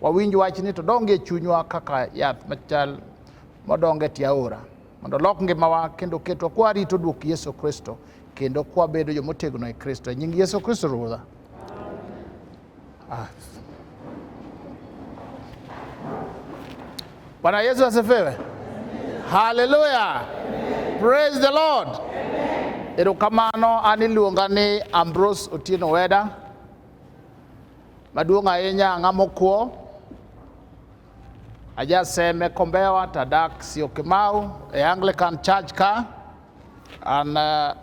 Wawinj wachni to donge chunywa kaka yath machal modonge tie aora mondo olok ngimawa kendo ketwa kwa rito dwok Yesu Kristo kendo kwa bedo jo motegno e Kristo e nying Yesu Kristo Ruodha. Ah. Bwana Yesu asifiwe. Haleluya. Praise the Lord. Erokamano an iluonga ni Ambrose Otieno Weda. Maduong' ahinya ang'a mokwo ajaseme Kombewa tadak Syokimau e Anglican Church ka an uh,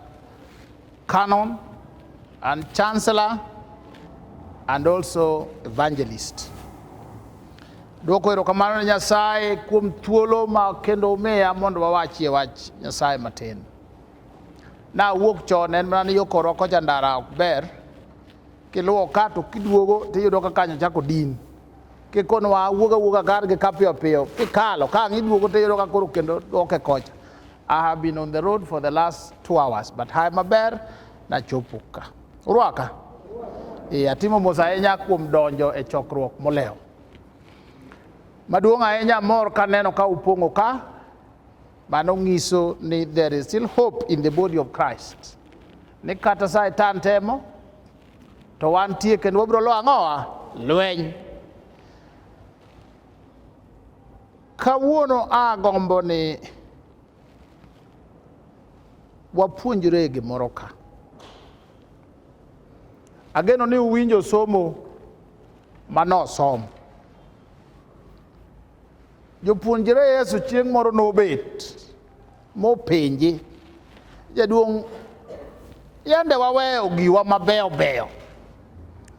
canon and chancellor and also evangelist. Dwoko erokamano ne Nyasaye kuom thuolo ma kendo omiya mondo wawachie wach Nyasaye matin. Nawuok chon en mana ni yo korwa kocha ndara ok ber kiluwo ka to kiduogo tiyudo ka kanyo chako din kikono wa wuoga wuoga kar gi kapiyo piyo kikalo ka ang' iduogo tiyudo ka koro kendo dwoke kocha i have been on the road for the last two hours but haye maber nachopo ka urwaka e atimo mos ahinya kuom donjo e chokruok molewo maduong' ahinya mor kaneno ka upong'o ka Mano nyiso ni there is still hope in the body of Christ. Ni kata Satan temo to wantie kendo wabiro lo ang'owa lweny. Kawuono agombo ni wapuonjre gimoro ka. Ageno ni uwinjo somo manosom. Jopuonjre Yesu chieng' moro nobet mopenje, jaduong' yande waweyo giwa mabeyo beyo,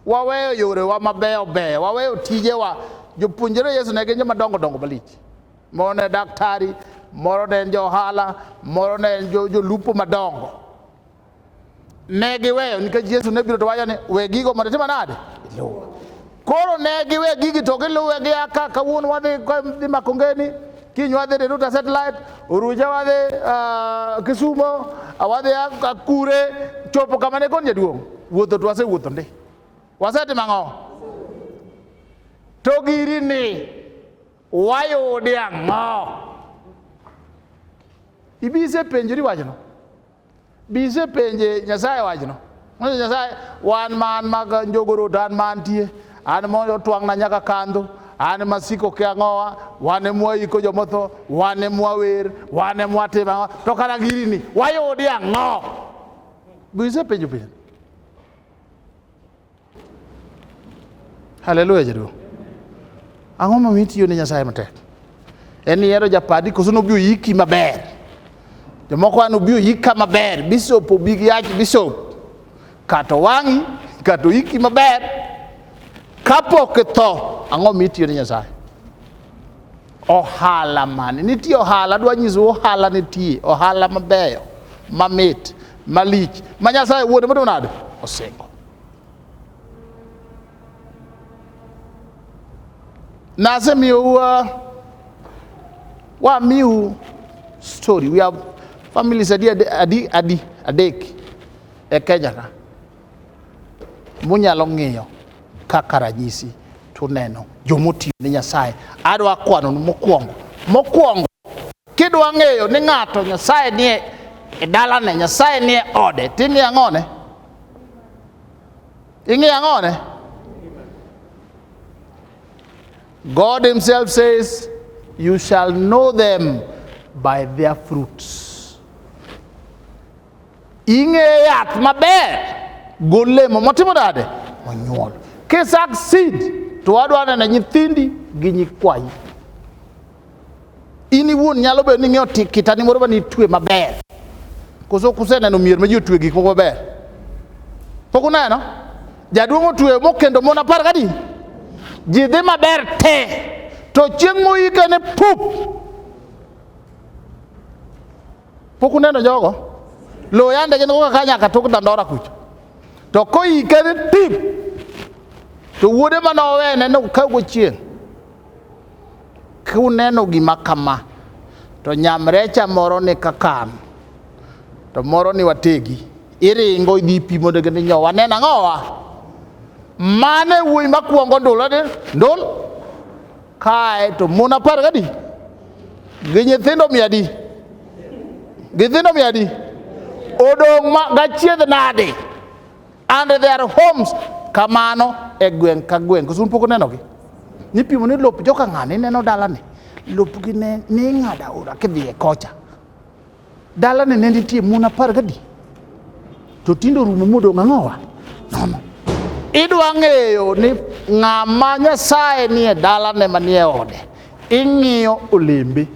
waweyo yorewa mabeyo beyo, waweyo tijewa. Jopuonjre Yesu ne gin joma dongo dongo malich, moro ne daktari, moro ne en johala, moro ne en jolupo madongo Ne giweyo nikech Yesu ne biro to wacho ni we gigo mondo itimo nade? Iluwa. Koro ne giwe gigi to giluwe gi aka kawuono wadhi dhi Makongeni, kiny wadhi Riruta satellite, Oruja wadhi uh, Kisumo, wadhi Akure, chopo kama ne kon jaduong'. Wuotho to wasewuotho ndi. Wasetimo ang'o? To giri ni wayudi ang'o? Ibise penjori wachno. Bise penje Nyasaye wachno. Nonyiso Nyasaye, wan ma an mag njogoro to an ma antie, an mondo otwang'na nyaka kandho, an masiko ke ang'owa, wan e mwaiko jomotho, wan e mwawer, wan e mwatim ang'o, to kata girini wayudi ang'o? Bise penjo penjo. Haleluya jaduong'. Ang'o momiyo itiyo ne Nyasaye matek? En ni ihero japadi koso nobi oyiki maber. Jomoko an obi oyika maber, bishop obi gi yach bishop. Kato wang'i, kato oyiki maber. Kapok itho, ang'o momiyo itiyo ne Nyasaye? Ohala mane? Nitie ohala, adwa nyisou ohala nitie, ohala mabeyo, mamit, malich, ma Nyasaye wuode motimo nade? Osingo. Nasemiyou uh, wamiu story. We have families adi adi adi adek e Kenya ka. Munyalo ng'iyo kaka ranyisi tuneno jomotiyo ne Nyasaye. Adwa kwanonu mokwongo. Mokwongo kidwa ng'eyo ni ng'ato Nyasaye nie e dalane, Nyasaye nie ode, ting'iyo ang'one? Ing'iyo ang'one? God himself says, you shall know them by their fruits. Ing'eyo yath maber golemo motimo nade? Monyuol. Kisak seed to wadwa neno nyithindi gi nyikwayi. In iwuon nyalo bedo ni ing'eyo kitani moro mane itwe maber. Koso kuseneno mier ma ji otwe gik moko maber. Pok uneno? Jaduong' otwe mokendo mon apar gadi. Ji dhi maber te. To chieng' moyike ne pup Pok uneno jogo? Lowo yande gin koka ka nyaka tok dandora kucho. To koyike ni tim to wuode ma nowene nokawgo chieng' kuneno gima kama to nyamrecha moro ni kakan to moro ni wategi iringo idhi pi mondo gini nyo waneno ang'owa mane wuoyi makwongo ndul ndul Kae to mon apar gadi gi nyithindo mia adi? Gi nyithindo mia adi? Odong' ma gachiedh nadi? And their homes kamano e gweng' ka gweng'. Koso un pok unenogi? Nipimo ni lop joka ng'ani ineno dalani. Lopgi ne ni ing'ado aora kidhiye kocha. Dalane ne nitie mon apar gadi to tinde orumo modong' ang'owa nono. Idwa ng'eyo ni ng'ama Nyasaye nie dalane manie ode, ing'iyo olembe.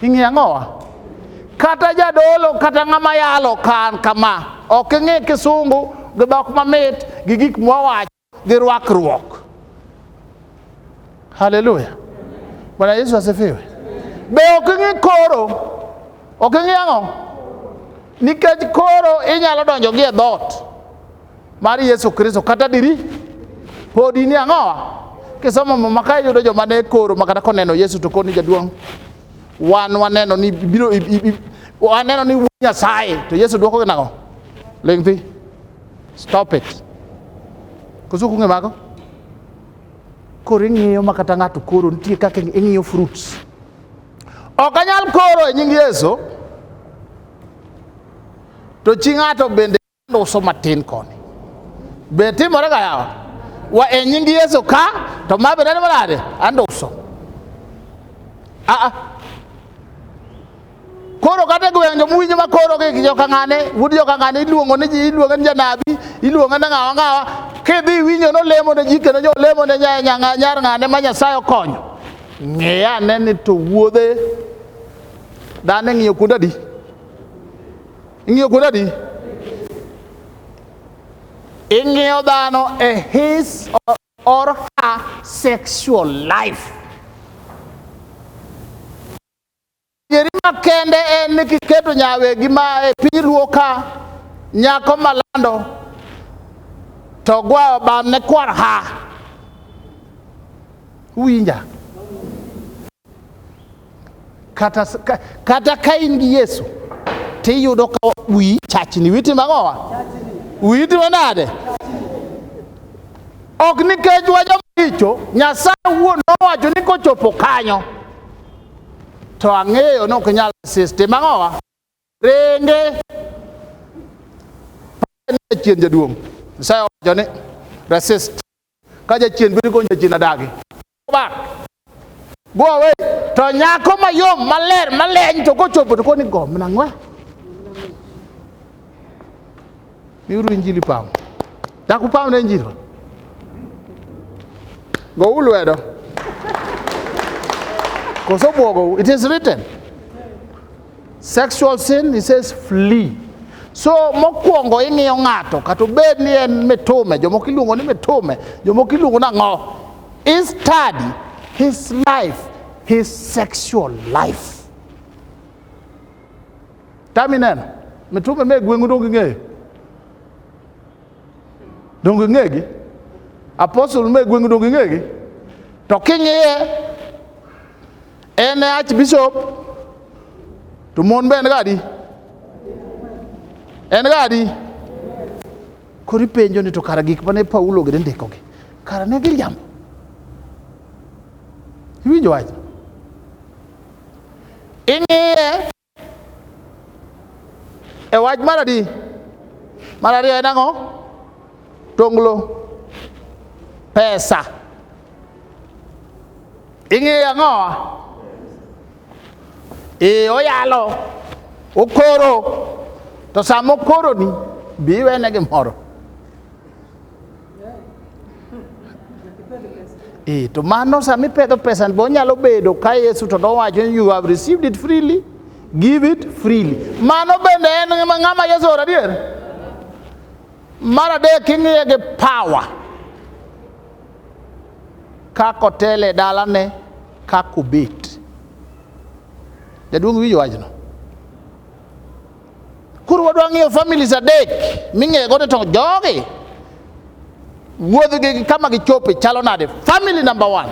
Ing'iyo ang'owa? Kata jadolo kata ng'ama yalo kan kama, ok ing'i kisungu gi dhok mamit gi gik mwawacho. gi rwakruok. Haleluya! Bwana Yesu asifiwe. Be ok ing'e koro? Ok ing'e ang'o? Nikech koro inyalo donjo gi e dhoot mar Yesu Kristo kata diri podi ni ang'owa kisomo muma ka iyudo joma ne koro makata koneno Yesu to koni jaduong' wan waneno ni biro waneno ni wuod Nyasaye to Yesu dwokogi nang'o? Ling' thi. Stop it. Koso kunge mago? Koro ing'iyo ma kata ng'ato koro nitie kaka ing'iyo fruits. Ok anyal koro e nying Yesu. To chi ng'ato bende uso matin koni. Be timore ga yawa? Wa e nying Yesu ka to ma bende ni malade? Ando uso. Ah ah. Koro kata e gwenge muwinjo ma koro gi jokang'ane, wuod jokang'ane iluongo ni ji, iluongo ni janabi, iluongo ni ng'awa ng'awa, kidhi iwinjo nolemo ne ji kendo jo lemo ne nya- nya- nyar ng'ane ma Nyasaye okonyo. Ng'e ane ni to wuodhe dhano ing'iyo kuonde adi? Ing'iyo kuonde adi? Ing'iyo dhano e his or- or her sexual life. Adieri makende en ni kiketo nyawegi ma e piny luo ka nyako malando to gwayo bam ne kwar ha winja kata, kata ka in gi Yesu tiyudo ka wi chachni witi mang'owa witi manade ok nikech wajo maricho nyasaye wuon nowacho ni kochopo kanyo to ang'eyo ni ok inyal resist tim ang'owa renge jachien jaduong' nyasaye owacho ni resist ka jachien biro konyo jachien adagi back go away to nyako mayom maler maleny to kochopo to koni gomna ng'we miuru injili pam dak upam ne injili go ulwedo koso bwogo it is written sexual sin he says flee so mokwongo ing'iyo ng'ato kata obed ni en mitume jomoko iluongo ni mitume jomoko iluongo ni ang'o i study his life his sexual life Tam ineno. Mitume me gweng'u dong ging'eyo. Dong ging'egi. Apostle me gweng'u dong ging'egi. To king'iye en e archbishop to mon be en gadi. En gadi. Koro ipenjo ni to kara gik mane Paulo gide ndikogi. Kara ne giriambo. Iwinjo wach? Ing'iye E wach mar adi? Mar ariyo en ang'o? Tonglo. Pesa. Ing'eyo ang'o? Ee oyalo, okoro, to sama okoroni, bi iwene gimoro. E, to mano sama ipedho pesa bo nyalo bedo ka Yesu to nowacho ni you have received it freely give it freely. Mano bende en ng'ama Yesu ora adier? Mar adek ing'iye gi power kaka otele dalane kaka obet. Jaduong' winjo wachno. Koro wadwa ng'iyo families adek ming'ego ni to jogi wuodhgi gi kama gichope chalo nade. Family number one,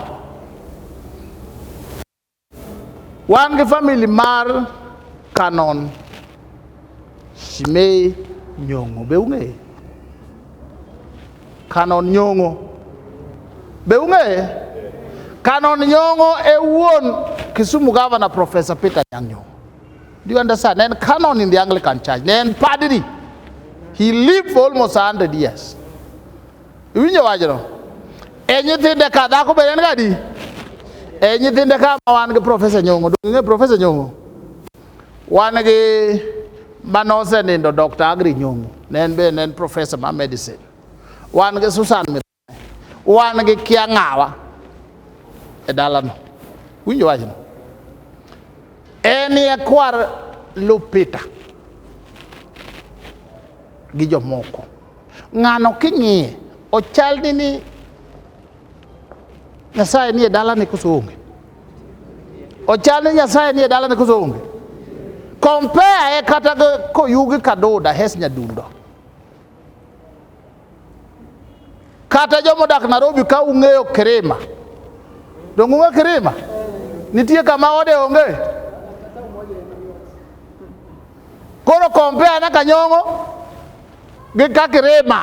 wan gi family mar Kanon Shimei Nyong'o, be ung'eye? Kanon Nyong'o, be ung'eye? Kanon Nyong'o e wuon Kisumu Governor Professor Peter Nyang' Nyong'o. Do you understand? And canon in the Anglican Church, then padri. He lived for almost 100 years. Iwinjo wachno? E nyithinde ka dhako be en gadi? E nyithinde ka ma wan gi Professor Nyong'o, donge ng'e Professor Nyong'o? Wan gi manose nindo Dr. Agri Nyong'o, ne en be ne en professor ma medicine. Wan gi Susan Mithika. wan gi kia ng'awa e dalano winjo wachno en e kwar lupita gi jomoko ng'ano king'iye ochal ni ni nyasaye nie dalani koso onge ochal ni nyasaye nie dalani koso onge compare e kata koyugi kaduda hes nyadundo Kata joma odak Nairobi ka ung'eyo Kirima. Donge ung'e Kirima? Nitie kama ode onge? Koro compare na Kanyong'o gi ka Kirima.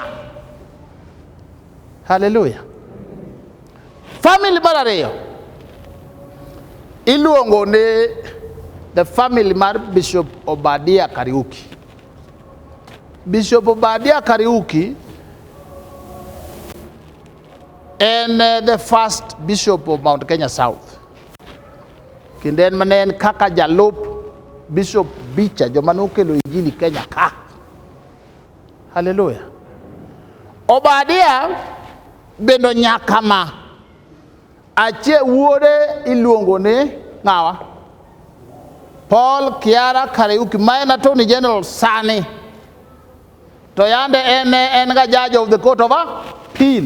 Haleluya. Family mar ariyo iluongo ni the family mar Bishop Obadia Kariuki. Bishop Obadia Kariuki en eh, the first bishop of Mount Kenya South kendo en mane en kaka jalup Bishop Bicha joma nokelo injili Kenya ka. Haleluya. Obadia bendo nyaka ma Achie wuode iluongo ni ng'awa? Paul Kiara Kariuki ma en attorney general sani to yande en en ga judge of the court of appeal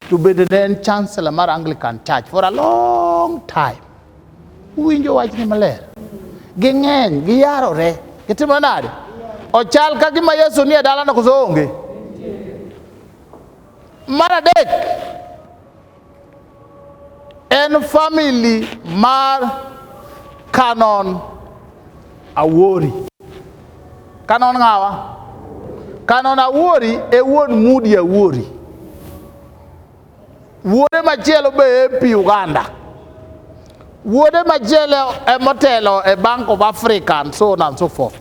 to bende ne en chancellor mar Anglican Church for a long time. Uwinjo wachni maler. Ging'eny, giyarore, gitimo nade? Ochal ka gima Yesu nie dalano koso onge? Mar adek, en famili mar Canon Awori. Canon ng'awa? Canon Awori e wuon Mudi Awori. Wuode machielo be MP Uganda. Wuode machielo e motelo e Bank of Africa and so on and so forth.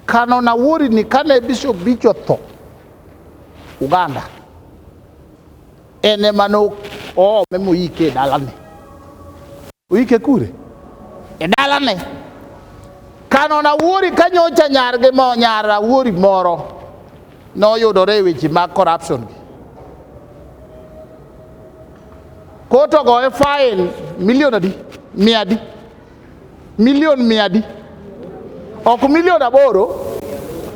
Canon Awori ni kane Bishop Bicho tho, Uganda ene mane oome moyike e dalane, oyike kure? E dalane. Kano na wuori ka nyocha nyargi mo nyar awuori moro noyudore e weche mag corruption gi. Koto goye fain milion adi? Mia adi? Milion mia adi? Ok milion aboro,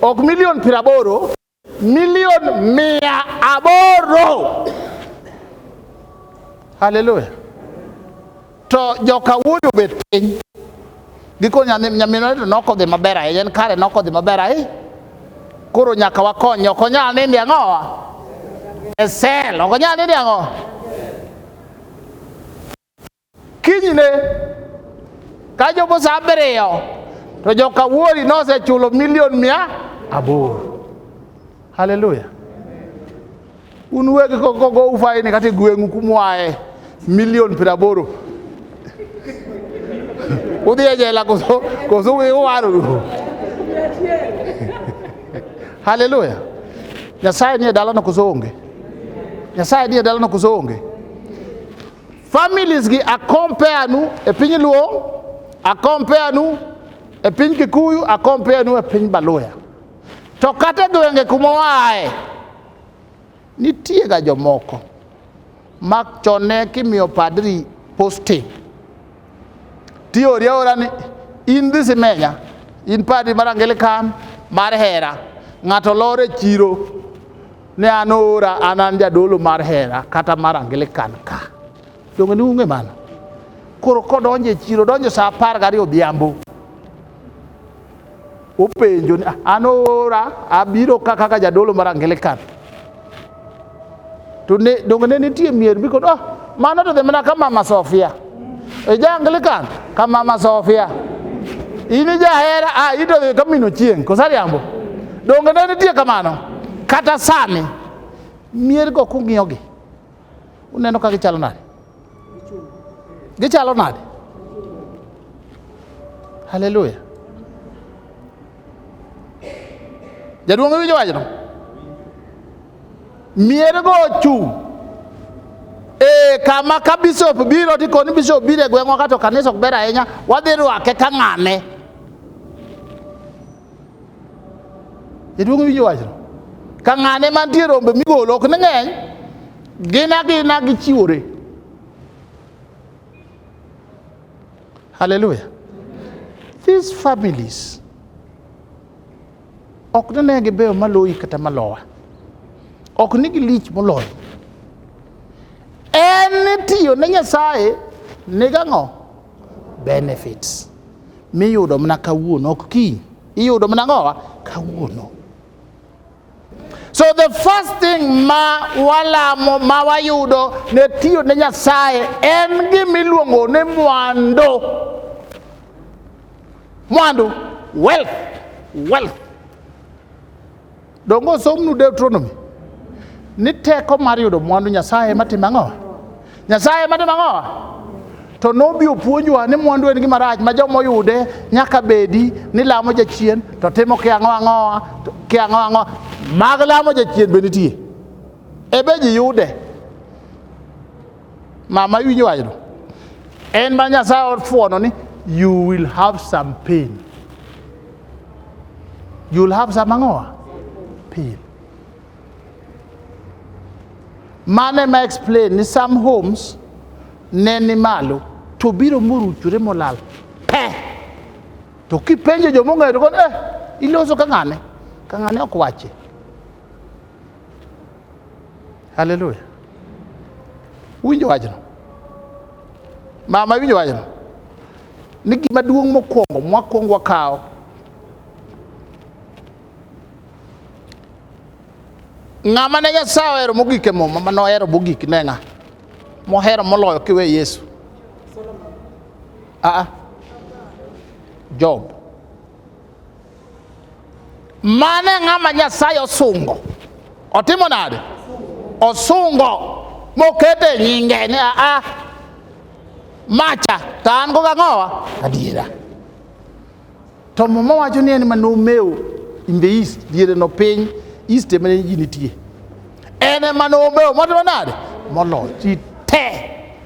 ok milion piero aboro, milion mia aboro. Haleluya. To joka wuoyi obet piny giko nyaminwa to nokodhi maber ahinya en kare nokodhi maber ahinya koro nyaka wakony ok onyal nindi ang'owa e sel ok onyal nindi ang'owa Kinyne kachopo saa abiriyo to joka Wuori nosechulo milion mia aboro. Haleluya! Un uwegi kogo ufaini kata gweng'u kumwae milion piero aboro udhi e jela koso koso uwaru. Haleluya! Nyasaye nie dalano koso onge? Nyasaye nie dalano koso onge? Families gi akompea nu e piny Luo, akompea nu e piny Kikuyu, akompea nu e piny Baluya. To kata gwenge kuma waaye, nitiega jomoko ma chone kimiyo padri posting tiori aora ni in dhi simenya in padri mar Anglican mar hera ng'ato lore chiro ne an oora an an jadolo mar hera kata mar angilikan ka donge ni ung'e mano koro kodonjo e chiro donjo saa apar gariyo odhiambo openjo ni "Ah, an oora abiro ka kaka jadolo mar angilikan to ne donge ne nitie mier mikono oh, mano to dhi mana ka mama sofia Ija Anglican ka Mama Sofia. In ija hera a ito dhi ka mino chieng' kosariambo. Donge ne nitie kamano? Kata sani mier go kung'iyogi uneno ka gichalo nade? Gichalo nade? Haleluya. Jaduong' iwinjo wachno? Mier go ochung' e kama ka bishop biro to ikoni bishop biro e gweng'wa kato kanisa ok ber ahinya wadhi rwake ka ng'ane jaduong' winjo wachno ka ng'ane mantie rombe migolo ok ni ng'eny gin agina gichiwore hallelujah these families Ok ne ne gibeyo maloyi kata malowa. Ok ni gilich moloyi. En tiyo ne Nyasaye nigang'o? Benefits. Miyudo mana kawuono, ok kiny. Iyudo mana ng'owa kawuono. So the first thing ma walamo ma wayudo ne tiyo ne Nyasaye en gimiluongo ni mwandu. mwandu wealth wealth donge osomnu deuteronomy ni teko mar yudo mwandu nyasaye matimo ang'owa nyasaye matimo ang'owa to nobi opuonjwa ni mwandu en gima rach ma joma oyude nyaka bedi ni lamo jachien to timo kiang'o ang'owa kiang'o ang'owa mag lamo jachien be nitie ebe ji yude Mama iwinjo wachno? En ma Nyasaye ofuono ni you will have some pain. You will have some ang'owa? Pain. Mane ma explain ni some homes ne ni malo to biro moruchore molal pe to kipenjo joma ong'eyo to eh, iloso ka ng'ane ka ng'ane ok wache Haleluya! Winjo wachno, mama, winjo wachno ni gima duong' mokwongo mwakwongo wakawo ng'ama ne Nyasaye ohero mogik e muma ma nohero mogik ne ng'a mohero moloyo kiwe Yesu aa ah, ah. Job mane ng'ama Nyasaye osungo otimo nade? Osungo mokete nyinge ni a ah, ah, macha to an go gang'owa adiera to muma wacho ni en ma nomeo in the east diere no piny east emane ji nitie en ema nobeyo motimo nade moloyo ji te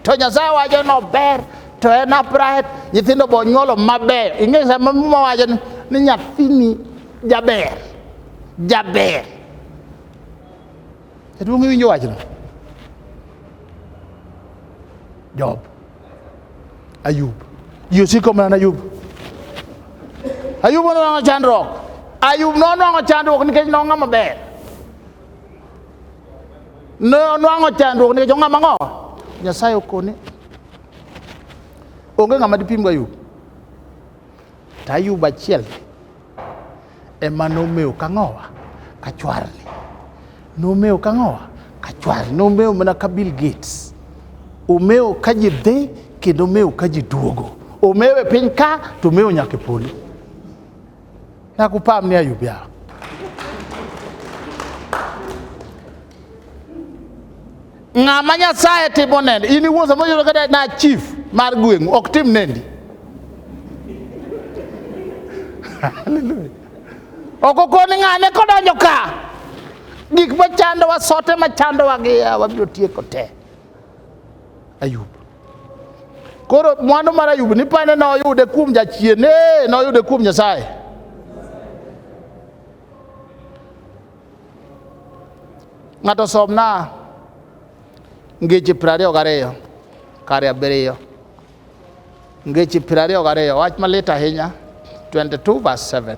to nyasaye wacho nober to en aprahet nyithindo bo nyuolo mabeyo ing'e sama muma wacho ni ni nyathini jaber jaber jaduong' iwinjo wachno job ayub ji osiko mana ayub ayub nonwang'o chandruok ayub nonwang'o chandruok nikech nong'a maber ne onwang'o chandruok nikech ong'ama ng'o nyasaye okone onge ng'ama dipim ga ayub to ayub achiel ema nomewo ka ng'owa ka chwarni nomewo ka ng'owa ka chwarni nomewo mana ka bill gates omewo ka ji dhi kendo omewo ka ji duogo omewo e piny ka to omewo nyaka e polo na kupam ni ayub ya ng'ama nyasaye timo nende in iwuon sama yudo kata na chief mar gweng'u ok tim nendi haleluya ok okoni ng'ane kodonjo ka gik machandowa sote machandowa gi yawa biro tieko te Ayub. Koro mwandu mar Ayub ni pane ne oyude kuom jachien, ee ne oyude kuom Nyasaye. Ng'ato somna ngeche piero ariyo gariyo kare abiriyo ngeche piero ariyo gariyo wach malit ahinya 22 verse 7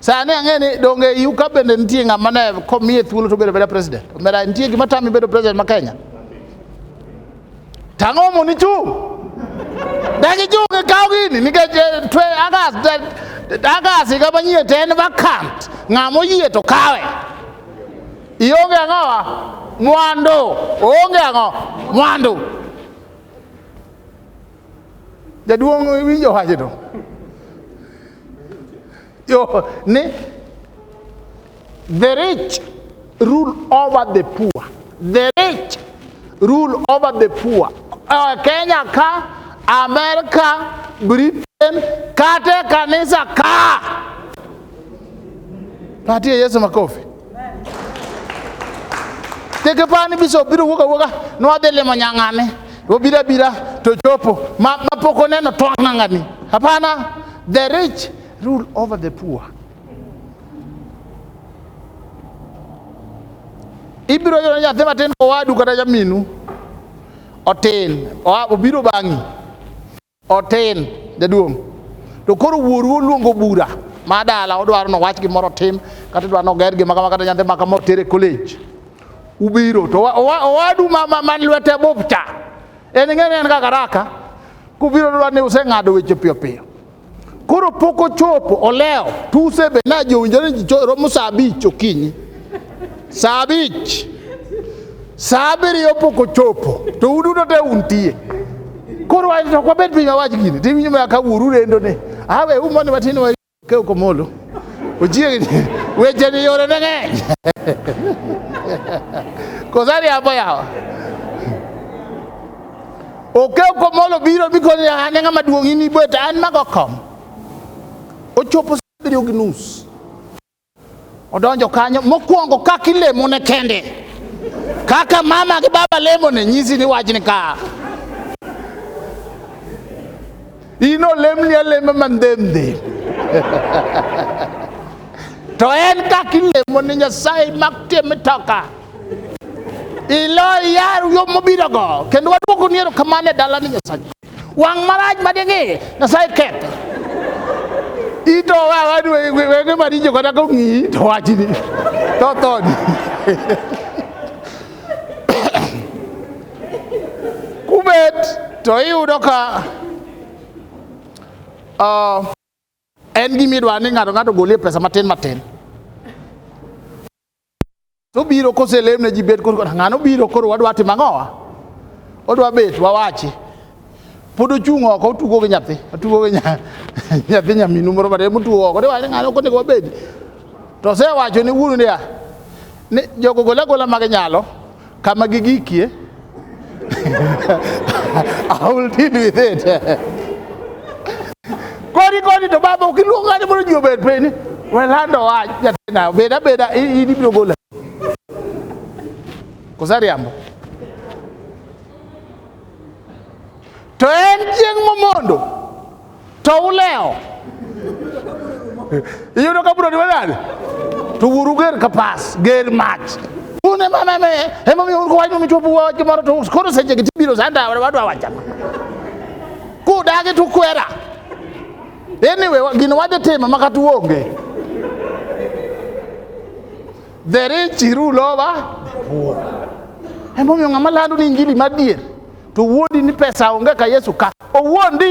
Sani ang'e ni donge iu ka bende nitie ng'ama ne komiye thuolo to bedo beda president. Omera nitie gima tami bedo president ma Kenya. Tang'o mo ni chung'. Dagi chung' e kaw gini nikech eh, twe agas agas higa manyien to en vacant. Ng'ama oyie to kawe. Ionge ang'owa? Mwandu. Oonge ang'o? Mwandu. Jaduong' winjo wachno. Yo ni the rich rule over the poor. The rich rule over the poor. Uh, Kenya ka, America, Britain, kate kanisa ka. Patie Yesu makofi. Teke pani biso biro wuoga wuoga nwadhi limo nyang'ane obiro abira to chopo ma, ma pok oneno twak ng'ang'ani hapana the rich rule over the poor ibiro yudo nyathi matin kowadu kata jaminu otin oa- obiro bang'i Otin jaduong'. To koro wuoru oluongo bura ma dala odwaro ni owach gimoro otim kata idwaro ni oger gima kama kata nyathi ma kama otere college. Ubiro to owa- owa- owadu ma ma- man lwete bup cha en ing'e ni en kaka raka kubiro dwa ni useng'ado weche piyo piyo. Koro pok ochopo olewo tuse be na jowinjore ji cho- romo saa abich okinyi. Saa abich, saa abiriyo pok ochopo, to uduto te untie. Koro wach to kwabed piny wawach gini, tiwinjo ma ka uru rendo ne. Awe u mondo matin wa kew komolo. Ochiegni, weche ni yore ne ng'eny. Kosari hapo yawa. Okew komolo biro bikoni an e ng'ama duong' in ibet an mago kom. Ochopo saa abiriyo gi nus. Odonjo kanyo mokwongo kaka ilemo ne kende, kaka mama gi baba lemo ne nyisi ni wachni ka in olemni alema mandhemdhe to en kaka ilemo ne Nyasaye mak tie mitoka ilo yar yo mobirogo kendo waduoko ni erokamano e dalani Nyasaye Wang' marach mading'i Nyasaye ketho. Ito wawa ni we- we- wene maricho kata kong'iyi to wachni to thoni. Kubet to iyudo ka ah, en gimidwa ni ng'ato ng'ato golie pesa matin matin. To biro koselem ne ji bet koro ng'ano biro koro wadwa timo ang'owa? Odwa bet wawachi. Pod ochung' oko otugo gi nyathi, otugo gi nyathi nyaminu moro matin motugo oko. De wani ng'ano konego wabed. To osewacho ne wuonu niya, ni jogo gola gola mage nyalo Kama gigikie I will deal with it. Kodi kodi to baba ukiluongo ng'ato mondo ji obed piny, we lando wach jatenda, beda beda in ibiro gola. Kosa riambo. To en chieng' momondo to ulewo iyudo ka bro niwe nade to wuoru ger ka pas ger mach un emameme emomiyo un kowacho michopo wach moro to koro sechegi tibiro sanda wadwa wachama kudagi to kwera anyway wa- gino wadhi timo ma kata uonge the rich rule over the poor emomiyo ng'ama lando ni injili madier to wuondi ni pesa onge ka Yesu ka owuondi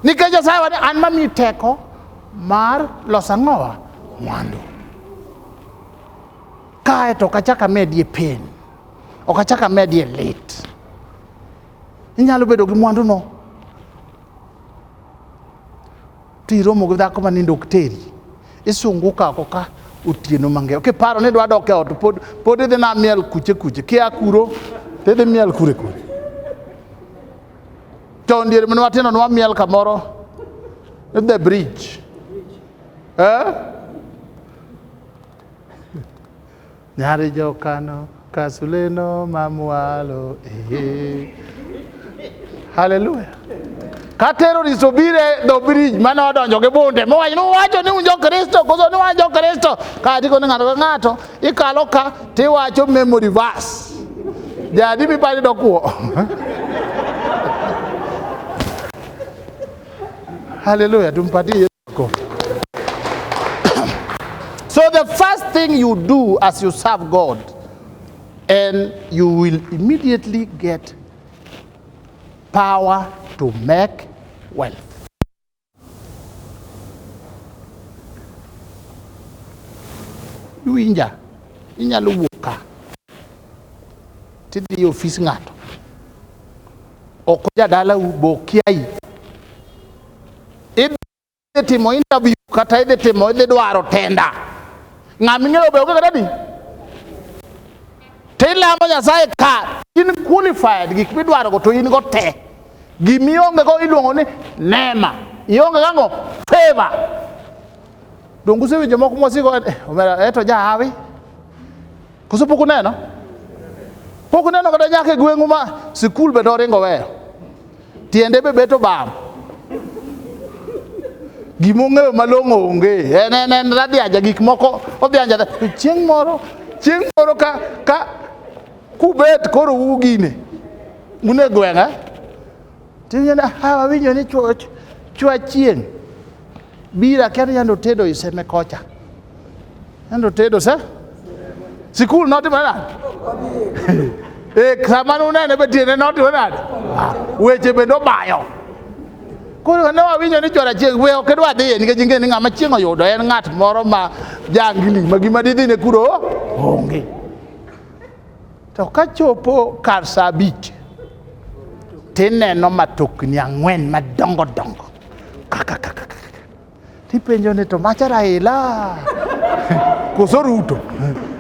nikech Nyasaye wani an mamiyi teko mar loso ang'owa mwandu kae to ok achak amedie pen ok achak amedie lit inyalo bedo gi mwanduno Tiromo gi dhako ma nindo ok teri. Isungu ka ko ka otieno mang'eyo. Kiparo ni dwa dok e ot pod pod idhi na miel kuche kuche. Kia kuro to idhi miel kure kure. To ndiere mane watino nwa miel kamoro the bridge. Eh? Nyari jokano kasuleno mamwalo ee. Haleluya. Ka terrorist obire dho bridge mane odonjo gi bunde mowacho ni uwacho ni un jokristo koso ni wan jokristo ka ndiko ni ng'ato ka ng'ato ikalo ka tiwacho memory verse jadi mipani dokuo haleluya tumpatie So the first thing you do as you serve God, and you will immediately get power to make wealth. Iwinja, inyalo wuok ka tidhi e ofis ng'ato ok jadalau bokiai idhi timo interview kata idhi timo idhi dwaro tenda ng'a ming'eyo be onge kata di to ilamo nyasaye ka in qualified gik midwarogo to in go te gimionge go iluongo ni nema ionge gango favor donge usewinjo moko mwasiko eh, omera eto eh, jahawi koso pok uneno pok uneno kata nyaka e gweng'u ma sikul be doringo weyo Tiende be beto bam. Gima ong'eyo malong'o onge. En en en radiaja gik moko odhianja. To chieng' moro, chieng' moro ka ka kubet koro ugine. Un e gweng'a. Tinyana ha winjo ni chwach chwach chieng'. Bira kendo yande otedo i seme kocha. Yande otedo se? Sikul notimore nade? Eh, sama nunene be tiende notimore nade? Ah, Weche bende obayo. Koro ne wawinjo ni chwor achiel we ok idwa dhiye nikech ing'e ni ng'ama chieng' oyudo en ng'at moro ma jangili ma gima didhine kuro onge. To ka chopo kar saa abich, tineno matokni ang'wen madongo dongo kaka kaka kaka. Tipenjo ni to macha Raila koso Ruto?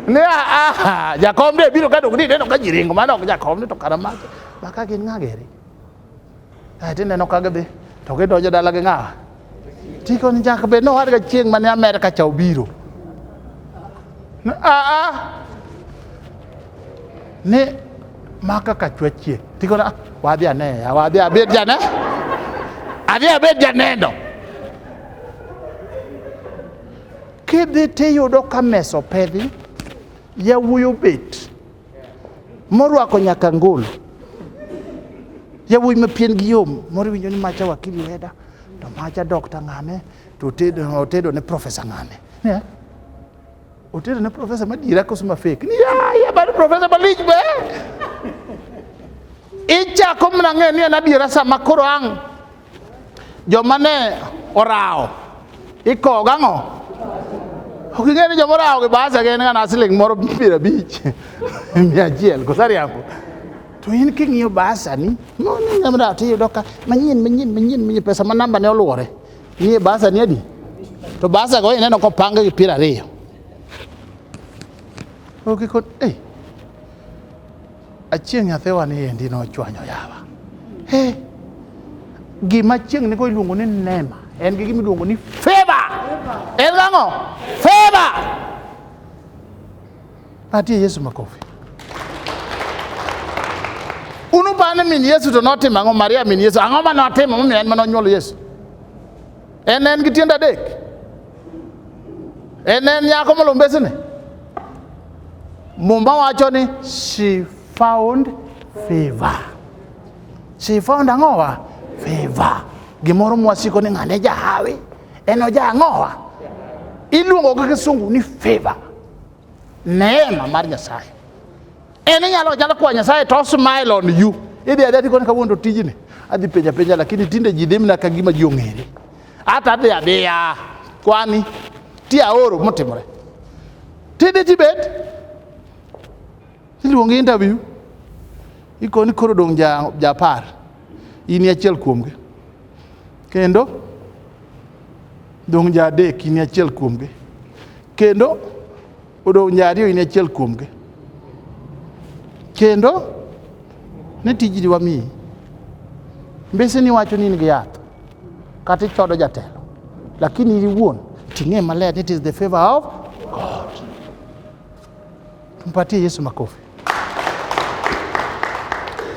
Ne a a jakom ne biro ka dong ni neno ka ji ringo mano ok jakom ni to kara macha. Maka gin ng'a geri? Tineno ka gidhi to gidonjo dala gi ng'awa. Tiko ni nyaka bed nowadga chieng' mane Amerka cha obiro. Aa ni ma kaka chwachie tiko na wadhi ane wadhi abed jane adhi abed janeno kidhi tiyudo ka mesa opedhi yawuoyi obet morwako nyaka ngol yawuoyi mapien gi yom moro iwinjo ni macha wakili weda to macha dokta ng'ane to otedo ne profesa ng'ane otedo ne profesa madiera koso mafek ni yaya bad profesa malich be ichako mna ng'eyo ni en adiera sama koro ang' joma ne orawo ikowo gang'o ok ing'e ni joma orawo gi basa gin ngana siling moro piero abich mia achiel kosariambo to in king'iyo basani nyamra to iyudo ka manyien manyien manyien manyien pesa ma namba ne oluwore nie basani adi to basa go ineno kopang gi piero ariyo okikon eh Achieng' nyathiwa ni endi nochwanyo yawa. He, gima chieng' nigo iluongo ni nema, en gi gima iluongo ni feva. En gang'o? Feva. Patie Yesu makofi. Unupane min Yesu to notimo ang'o? Maria min Yesu, ang'o ma notimo momiyo en ma nonyuolo Yesu? En en gi tiende adek. En en nyako molombesene. Mumba wacho ni she found favor. She found ang'owa? Favor. Gimoro mwasiko ni ng'ane jahawi. En oja ang'owa? Iluongo gi kisungu ni favor. Neema mar Nyasaye. En inyalo nyalo kwa Nyasaye to smile on you. Idhi adhi ati koni kawuondo tijni. Adhi penja penja lakini tinde ji dhi mna ka gima ji ong'ere. Ata adhi adhiya kwani ti aoro motimore. Tinde tibet iluongi interview ikoni koro dong' ja, ja par in e achiel kuomgi kendo dong' ja adek in e achiel kuomgi kendo Odong' nya ariyo in achiel kuomgi. Kendo ne tijni wamiyi. Mbese ni wacho ni in gi yath kata ichodo jatelo lakini in iwuon ting'e maler ni it is the favor of God. Tumpatie Yesu makofi.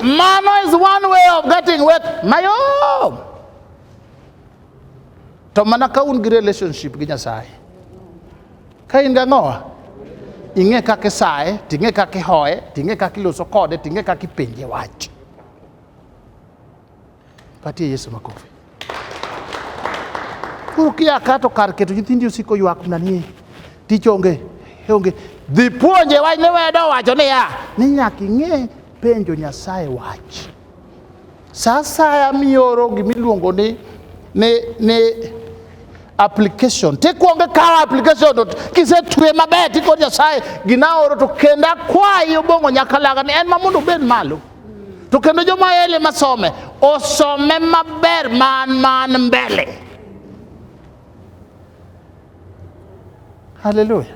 Mano is one way of getting wet mayom. to mana ka un gi relationship gi nyasaye ka in gang'owa ing'e kaka isaye ting'e kaka ihoye ting'e kaka iloso kode ting'e kaka ipenje wach patie yesu makofi koro kia ka to kar keto nyithindi osiko ywak mana ni tich onge onge dhi puonje wach ne wedo wacho niya ni nyaka ing'e penjo nyasaye wach Sa asaya mioro gimiluongo ni, ni, ni application tikwongo ikawo application to kisetwe maber tiko nyasaye gina oro to kendo akwayi obong'o nyakalaga ni en ma mondo obed malo to kendo joma ele masome osome maber man man mbele haleluya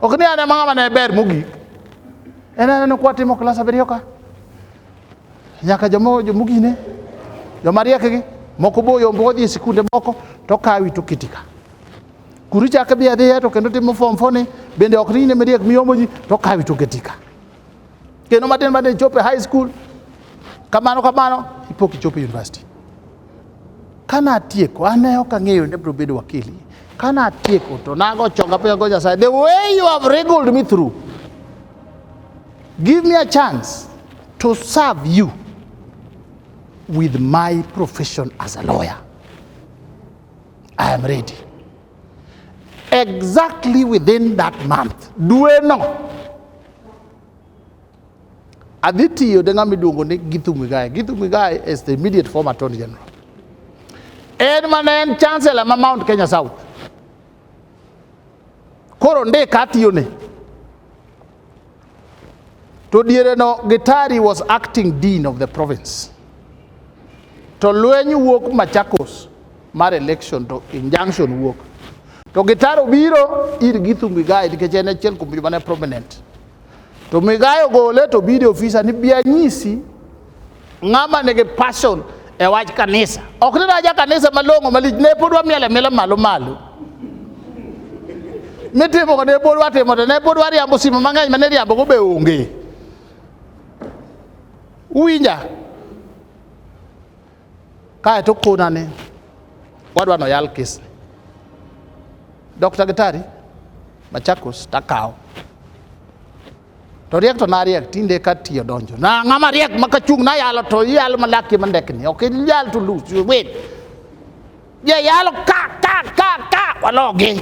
Ok ni an ema ng'ama ne ber mogik. En aneno kwa timo klas abiriyo ka. Nyaka jomo jomogine. Joma riekgi moko boyo moko dhi e sikunde moko to kawi to kiti ka. Kuru chak dhi adhiya to kendo timo form four ni bende ok ni ne mariek miyomo ji to kawi to kiti ka. Kendo matin matin chopo e high school kamano kamano ipo kichopo e university. Kana tieko, an ne ok ang'eyo ni bro bedo wakili. Kana tieko to nago chonga piny go Nyasaye, the way you have wriggled me through, give me a chance to serve you with my profession as a lawyer. I am ready. Exactly within that month, dueno Adhi tiyo de ng'ama iluongo ni Githu Muigai. Githu Muigai is the immediate former Attorney General. En mana en chancellor ma Mount Kenya South. Koro ndika atiyone. To diere no Gitari was acting dean of the province. To lweny wuok Machakos mar election to injunction wuok. To Gitari obiro ir Githu Muigai nikech en achiel kuom joma ne prominent. To migayo gole to bide ofisa ni bi anyisi ng'ama nigi passion e wach kanisa. Ok ni naja kanisa malong'o malich ne pod wamiele miele malo malo. Mitimo ne pod watimo to ne pod wariambo simo mang'eny mane riambo go be onge. Uwinja? Kae to kona ni wadwa no yal kisni. Dr. Gitari, Machakos takawo. To riek to nariek tinde ka tiyo donjo. Na ng'ama riek ma kachung' na yalo to yalo malaki mandekni. Ok yal to lose you win. Je yalo ka ka ka ka walogi.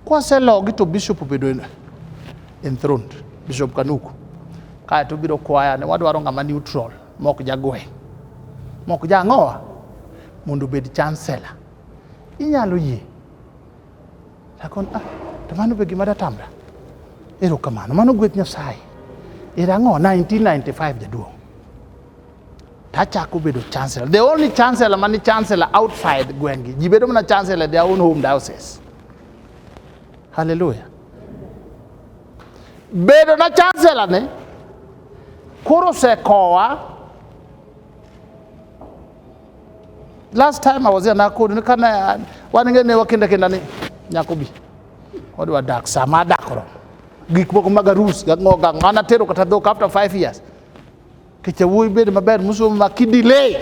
Kwaselogi to bishop obedo enthroned, Bishop Kanuku. Kae to biro kwaya ne wadwaro ng'ama neutral, mok jagwe, mok jang'owa mondo obed chancellor. Inyalo yie. Lakon, ah, to mano be gima datamra. Erokamano, mano gweth Nyasaye. Era ang'o 1995 jaduong'. tachako bedo chancellor. The only chancellor mani chancellor outside gweng'gi. Ji bedo mana chancellor their own home diocese. Hallelujah. Bedo na chancellor ne koro sekowa last time I was here Nakuru ni kana wanenge ne wakenda kenda ni nyakobi odwa dak sama dakro gik moko mag arus gang'o gang'o anatero kata dhok after 5 years Kicha wuoyi bed maber musomo ma kidilei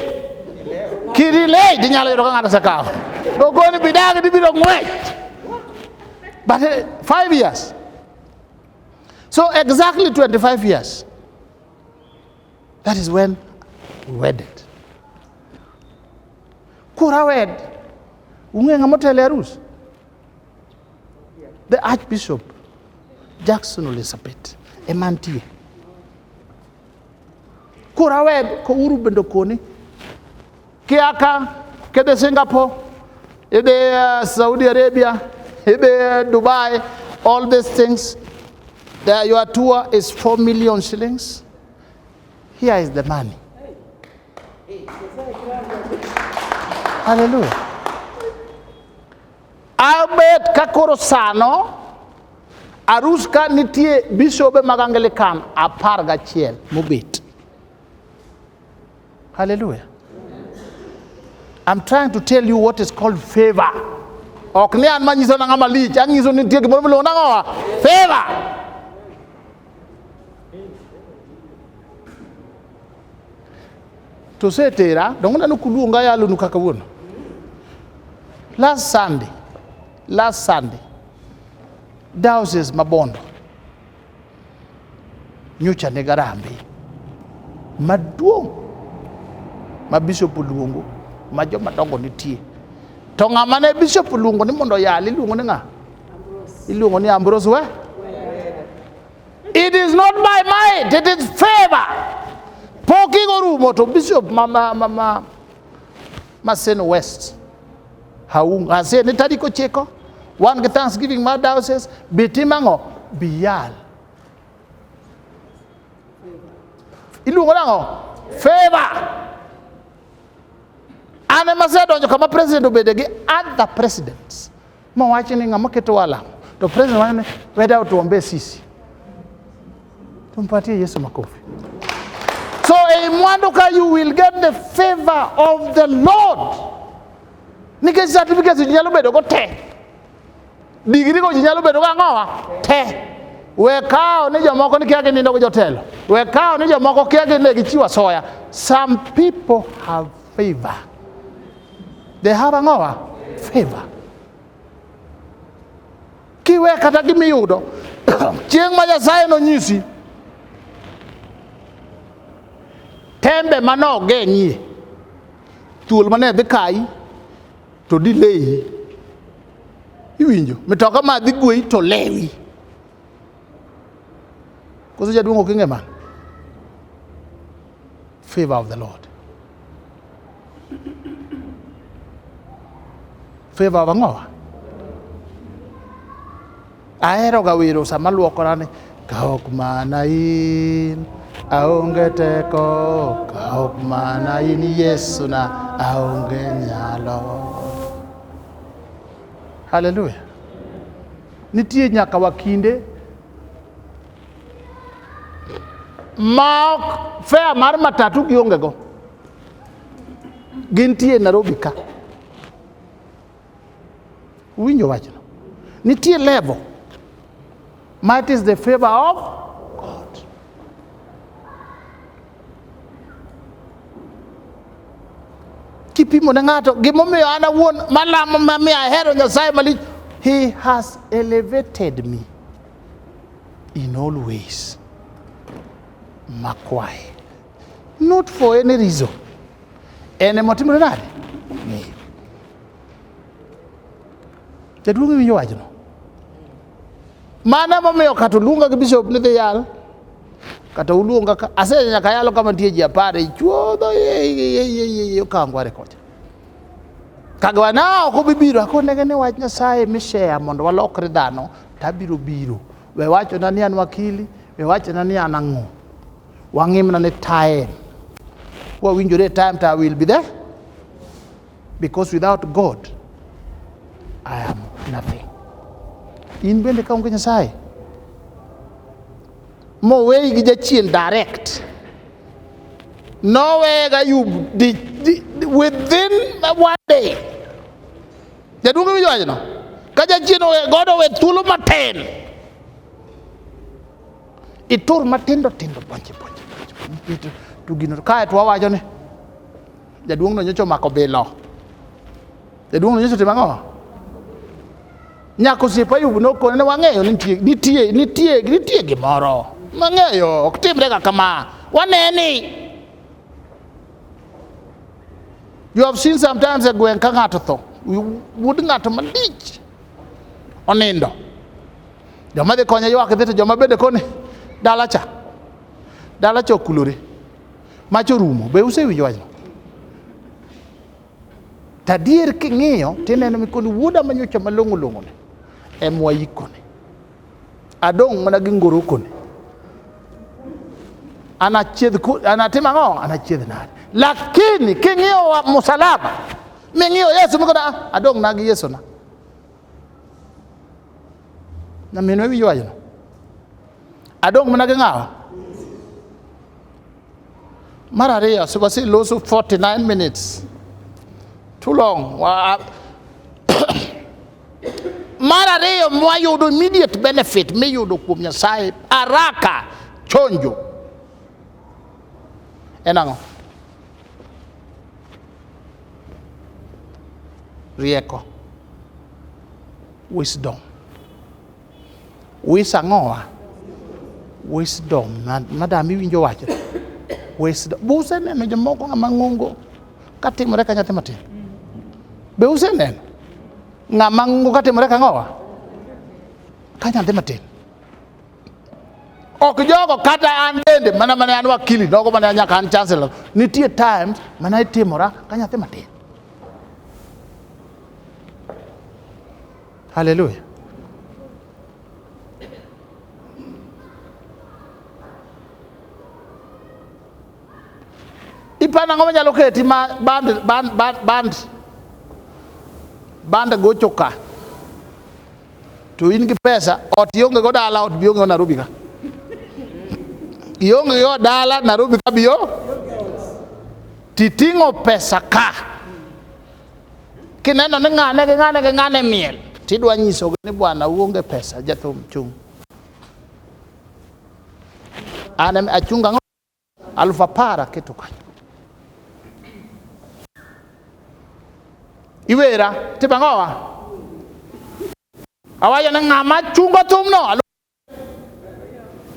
kidilei dinyalo yudo ka ng'ato osekawo ogoni bidagi dibiro ng'wech but eh, five years so exactly 25 years that is when we wedded kura wed ung'e ng'ama otelo e arus The Archbishop Jackson Ole Sapit ema nitie. Koro awe kouru bende koni kiaka kidhi Singapore, idhi uh, eh, Saudi Arabia, idhi uh, eh, Dubai, all these things. The, your tour is 4 million shillings. Here is the money. Haleluya. Abet ka koro sano arus ka nitie bisobe mag Anglikan apar gachiel mobet. Haleluya. I'm trying to tell you what is called favor. Ok ni an manyiso na ng'ama lich, anyiso ni nitie gimoro miluongo nang'owa favor. tosetera dongo nano kuluonga yalonu kaka wuono last sunday last sunday diocese ma bondo nyocha ne garambe maduong' ma bishop oluongo ma joma dongo nitie to ng'ama ne bishop oluongo ni mondo oyal iluongo ni ng'a iluongo ni ambros we It is not by might, it is favor. Pok igorumo to Bishop ma, ma, ma, ma, Maseno West. Haung, ase ni tariko chiko. Wan gi Thanksgiving ma diocese bitimang'o biyal. Iluongo nang'o? Favor. An ema asedonjo kama president obede gi other presidents. Mowach ni ng'ama keto wala to president wanyo ni weda otuombe sisi. Tumpatie Yesu makofi. So ei mwandu ka you will get the favor of the Lord. Nikech certificates ji nyalo bedo go te. Digiri go ji nyalo bedo go ang'owa te. We kawo ni jomoko ni kia ginindo gi jotelo. We kawo ni jomoko kia gine gichiwo asoya. Some people have Favor. They have a ngoa? Favor. Kiwe kata gimiyudo chieng' ma Nyasaye nonyisi tembe manogeng'ie thuol mane dhi kayi to dileyi iwinjo mitoka ma dhi gweyi to lewi koso jaduong' ok ing'e mano Favor of the Lord. Favor of ang'owa? Aheroga wero sama luokora ni kaok mana in aonge teko kaok mana in Yesu na aonge nyalo. Hallelujah. Nitie nyaka wakinde ma ok fea mar matatu giongego gintie e Nairobi ka winjo wachno nitie level ma it is the favor of God kipimo ne ng'ato gimomiyo an awuon malamo mamiyo ahero nyasaye malich he has elevated me in all ways makwaye not for any reason en emotimore nade ng'eyo jaduong' iwinjo wachno mano emomiyo kata oluonga gi bishop ni dhi yal kata uluonga ka ase nyaka yalo kama nitie ji apar ichuodho okangware kocha kagiwa na ok obibiro akonege ni wach nyasaye mishare mondo walokre dhano to abiro biro. We wachona ni an wakili, we wachona ni an ang'o. Wang'imna ni time. Wawinjore time to I will be there. Because without God, I am nothing. In bende ka onge Nyasaye, moweyi gi jachien direct nowega you within one day Jaduong' winjo wachno? Ka jachien owe godo owe thuolo matin, itur matindo tindo ponche ponche ponche to gino kae to wawacho ni jaduong'no nyocha omako bilo. Jaduong'no nyocha otimo ang'o? Nyako osiepa Ayub nokone ni wang'eyo ni nitie nitie nitie nitie gimoro. Wang'eyo ok timre ga kama. Waneni. You have seen sometimes a gweng' ka ng'ato tho, wuod ng'ato malich onindo. Joma dhi konye ywak dhi to joma bende koni dala cha. Dala cha okulore. Mach orumo. Be usewinjo wachno? Tadier king'iyo tineno mikoni wuoda manyocha malong'o long'one em wayikone. Adong' mana gi ngorokoni. Anachiedh anatim ang'o? Anachiedh nade? Lakini king'iyo msalaba, ming'iyo Yesu mikoda ah, adong' na gi Yesu na. Nyaminwa iwinjo wachno? Adong' mana gi ng'awa? Mar ariyo, supasi loso 49 minutes. Too long. Wa- Mar ariyo mwayudo immediate benefit miyudo kuom Nyasaye haraka chonjo. En ang'o? Rieko. Wisdom. Wis ang'owa? Wisdom. Madam iwinjo wacho. Wisdom. Be useneno jomoko ng'ama ng'ongo katimore ka nyathi matin? Be useneno ng'ama ng'ongo katimore ka ng'owa? Ka nyathi matin. ok jogo kata an bende mana mane an wakili nogo mane nyaka an chancellor nitie times mana itimora ka nyathi matin Haleluya! ipana ngo manyalo keti ma band band band band band gocho ka to in gi pesa ot ionge go dala ot bionge Nairobi ka ionge go dala Nairobi ka bio titing'o pesa ka kineno ni ng'ane gi ng'ane gi ng'ane miel tidwa nyisogi ni bwana uonge pesa jathum chung' an em- achung' ang'o aluf apar aketo kanyo iwera timo ang'owa awacho ni ng'ama chungo thumno aluf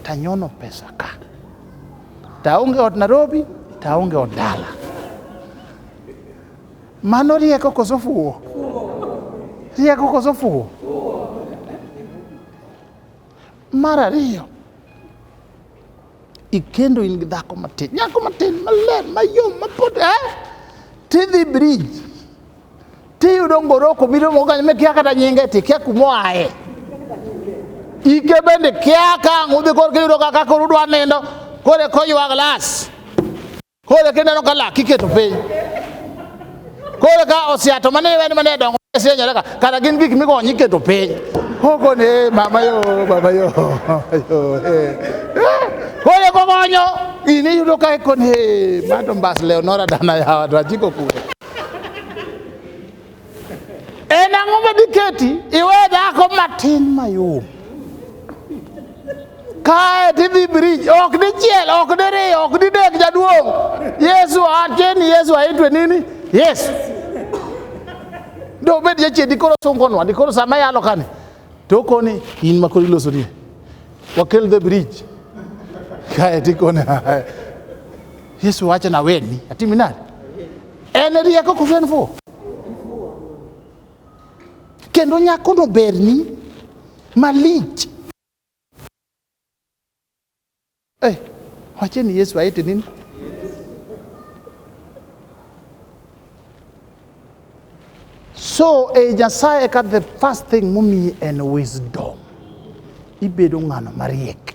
tanyono pesa ka taonge ot Nairobi taonge ot dala. Mano rieko koso fuwo? Rieko koso fuwo? Mar ariyo Ikendo in gi dhako matin, nyako matin, maler, mayom, mapod eh? Tidhi brij, tiyudo ngoroko biro mogany me kia kata nyinge ti kia kumoae. Ike bende kia ka ng'udhi korka iyudo kaka koro udwa nindo, kore koywa glas. Koro kendo aneno ka lak iketo piny. Koro ka osiato mane iweni mane dongo sienyoreka kata gin gik migonyo iketo piny. Koko ne mama yo baba yo yo eh. Koro kogonyo in iyudo ka ikoni eh, mato mbas leo nora dana yawa to achiko kure. En ang'o ma diketi iwe dhako matin mayom? Kae tidhi brij, ok dichiel, ok diriyo, ok didek jaduong'. Yesu acheni, Yesu aitwe nini? Yesu. Do bed jachien dikoro sungonwa, dikoro sama yalo kani. To koni in ma koro iloso ni. Wakel the bridge. Kae tikone. Yesu wacho na weni, atimi nani? En rieko koso en fuwo? Kendo nyakono berni malich. Eh, wache ni Yesu aete nini? So e Nyasaye eka the first thing momiyi en wisdom. Ibedo ng'ano mariek.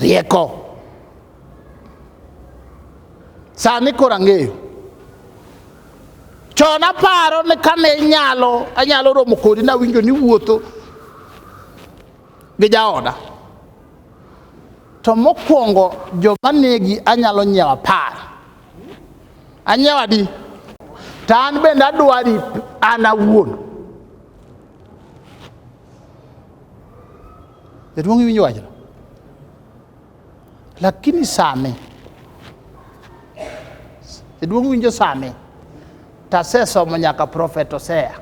Rieko. Sani koro ang'eyo. Chon aparo ni kane inyalo anyalo romo kodi nawinjo ni wuotho gi jaoda. To mokwongo joma negi anyalo nyiewo apar. Anyiewo adi? To an bende adwari an awuon. Jaduong' iwinjo wachno? Lakini sani jaduong' winjo sani to asesomo nyaka Prophet Hosea.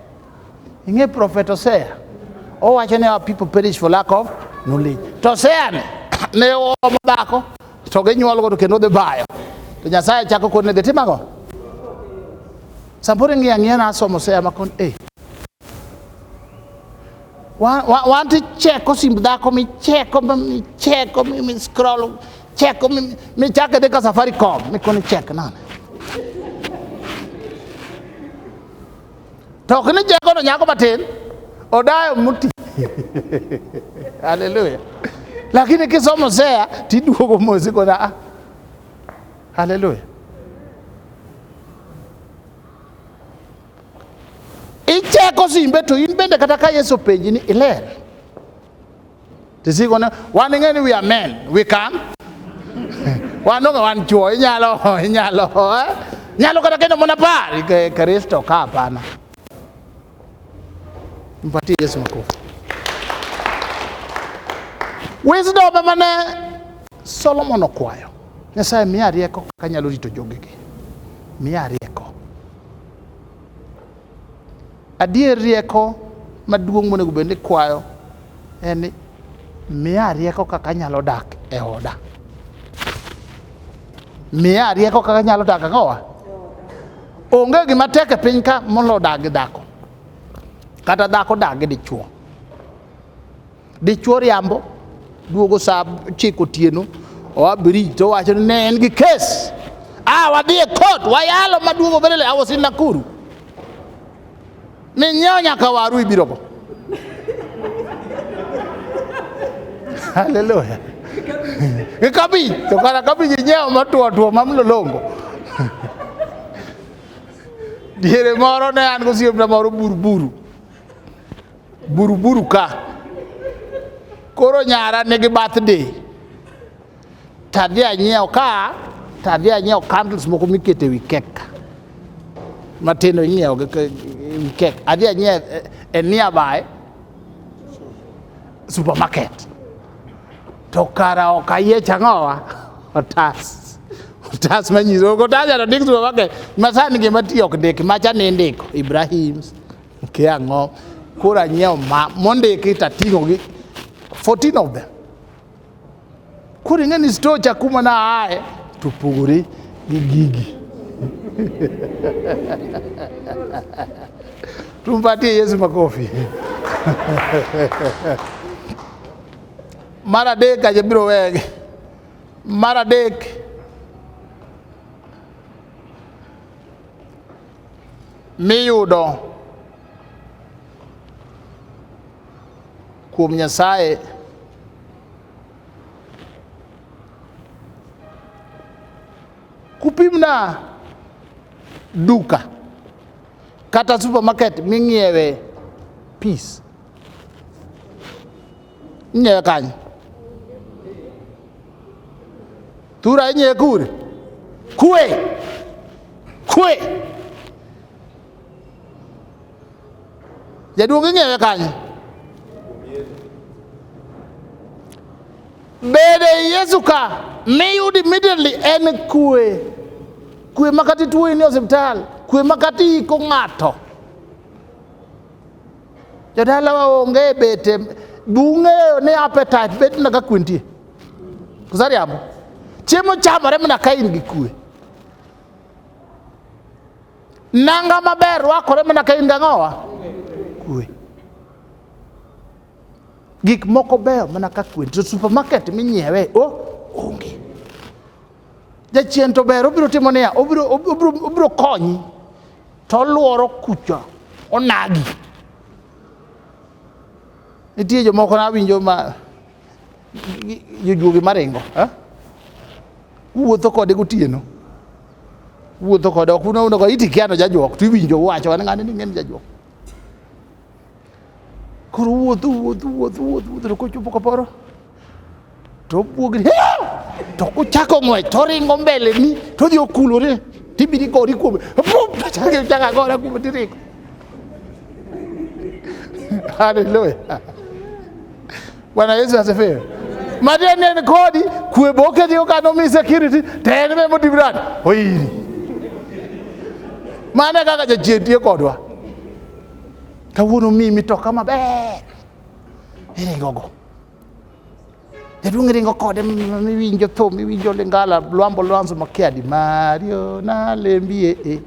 Ing'e Prophet Hosea? Owacho ni our people perish for lack of knowledge. To Hosea ni ne oomo dhako to ginyuolgo to kendo dhi bayo. To Nyasaye chako kone dhi timago. Samoro ing'iyo ang'iya na asomo Hosea ma kon eh Want to check osimb dhako micheko micheko mi scroll cheko michake dhi ka Safaricom mikoni chek nane to ok ni chekono nyako matin odayo muti haleluya lakini kisomo sea tiduogo mosi kona ah. haleluya Icheko simbe to in bende kata ka Yesu penji ni iler. Tisiko ne wan ing'e ni we are men, we can. wan onge wan chuo, inyalo inyalo eh? Nyalo kata kendo mona par Kristo ka hapana. Mpatie Yesu makofi. Wisdom ema ne Solomon okwayo. Nyasaye miya rieko kaka anyalo rito jogegi. Miya rieko. Adier rieko maduong' monego bed ni kwayo en ni miya rieko kaka anyalo dak e oda. Miya rieko kaka anyalo dak e oda. Onge gima tek e piny ka molo dak gi dhako. Kata dhako dak gi dichuo. Dichuo riambo duogo saa chiko otieno oa brij to wacho ni ne en gi kes ah, wadhi e kot wayalo maduogo bedele awosi Nakuru minyiewo nyaka waru ibirogo haleluya gi kabich to kata kabich inyiewo matuo tuo mamlolongo diere moro ne an gosiepna moro buruburu buruburu ka koro nyara nigi birthday to adhi anyiewo ka to adhi anyiewo candles moko mikete wi kek matindo inyiewo wi kek adhi anyiewo e, e nearby supermarket to kara ok ayiech ang'owa otas otas manyiso ok otas to ndik supermarket masani gima tiyo ok ndik macha ni indiko Ibrahims Kia ang'o? Koro anyiewo ma mondiki to ating'o gi 14 of them. Koro ing'e ni store cha kuma na aye to opogore gi gigi. Tumpatie Yesu makofi. Mar adek aje biro wegi. Mar adek miyudo kuom Nyasaye kupimna duka kata supermarket ming'iewe peace Inye kany. Tura inye kur. Kue. Kue. Jaduong' ing'eyo kanye? Bede Yesu ka miyud immediately en kue. Kue makati tuo in e osiptal, kue makati iko ng'ato. Jodalawa onge e bete, bung'eyo ni appetite bet na ka kwintie. Kusariambo. Chiemo chamore mana ka in gi kue. Nanga maber rwakore mana ka in gi ang'owa? Kue. Gik moko beyo mana ka kwe. To supermarket minyiewe, oh, onge. Jachien to ber, obiro timo niya, obiro, obiro, obiro konyi to olworo kucha onagi. Nitie jomoko nawinjo ma jojuogi maringo eh? wuotho kode gotieno wuotho kode ok unaonoga itikiano jajuok to iwinjo wacho an ng'ani ni ng'eni jajuok Koro wuotho wuotho wuotho wuotho wuotho to kochopo kaporo to obwogni to kuchako ng'wech to oringo mbeleni to odhi okulore tibiri gori kuome chaka gora kuome tiringo haleluya bwana yesu asifiwe matieni en kodi kwe boketi okano mi security to en be motimrani oyiri mane kaka jachien tiyo kodwa kawuono miyi mitoka maber iringogo jaduong' ringo kode miwinjo thum miwinjo lingala lwambo lwanzo makiadi mario nalembie e eh.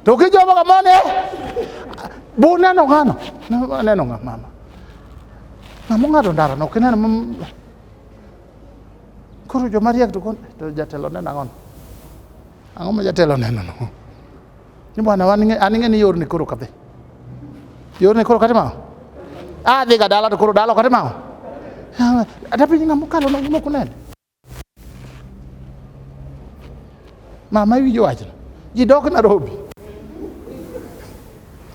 to kijomo kamane buneno ng'ano aneno ng'a mama ng'amo ng'ado ndara no kineno koro jomariek to jatelo neno ang'ono ang'o ma jatelo neno no ni bwana waninge aninge ni yorni koro kadhi yorni koro kati mao adhi ga dala to koro dala kati mao ata piny ng'ama okalo na gimoko nene mama iwinjo wachno ji dok Nairobi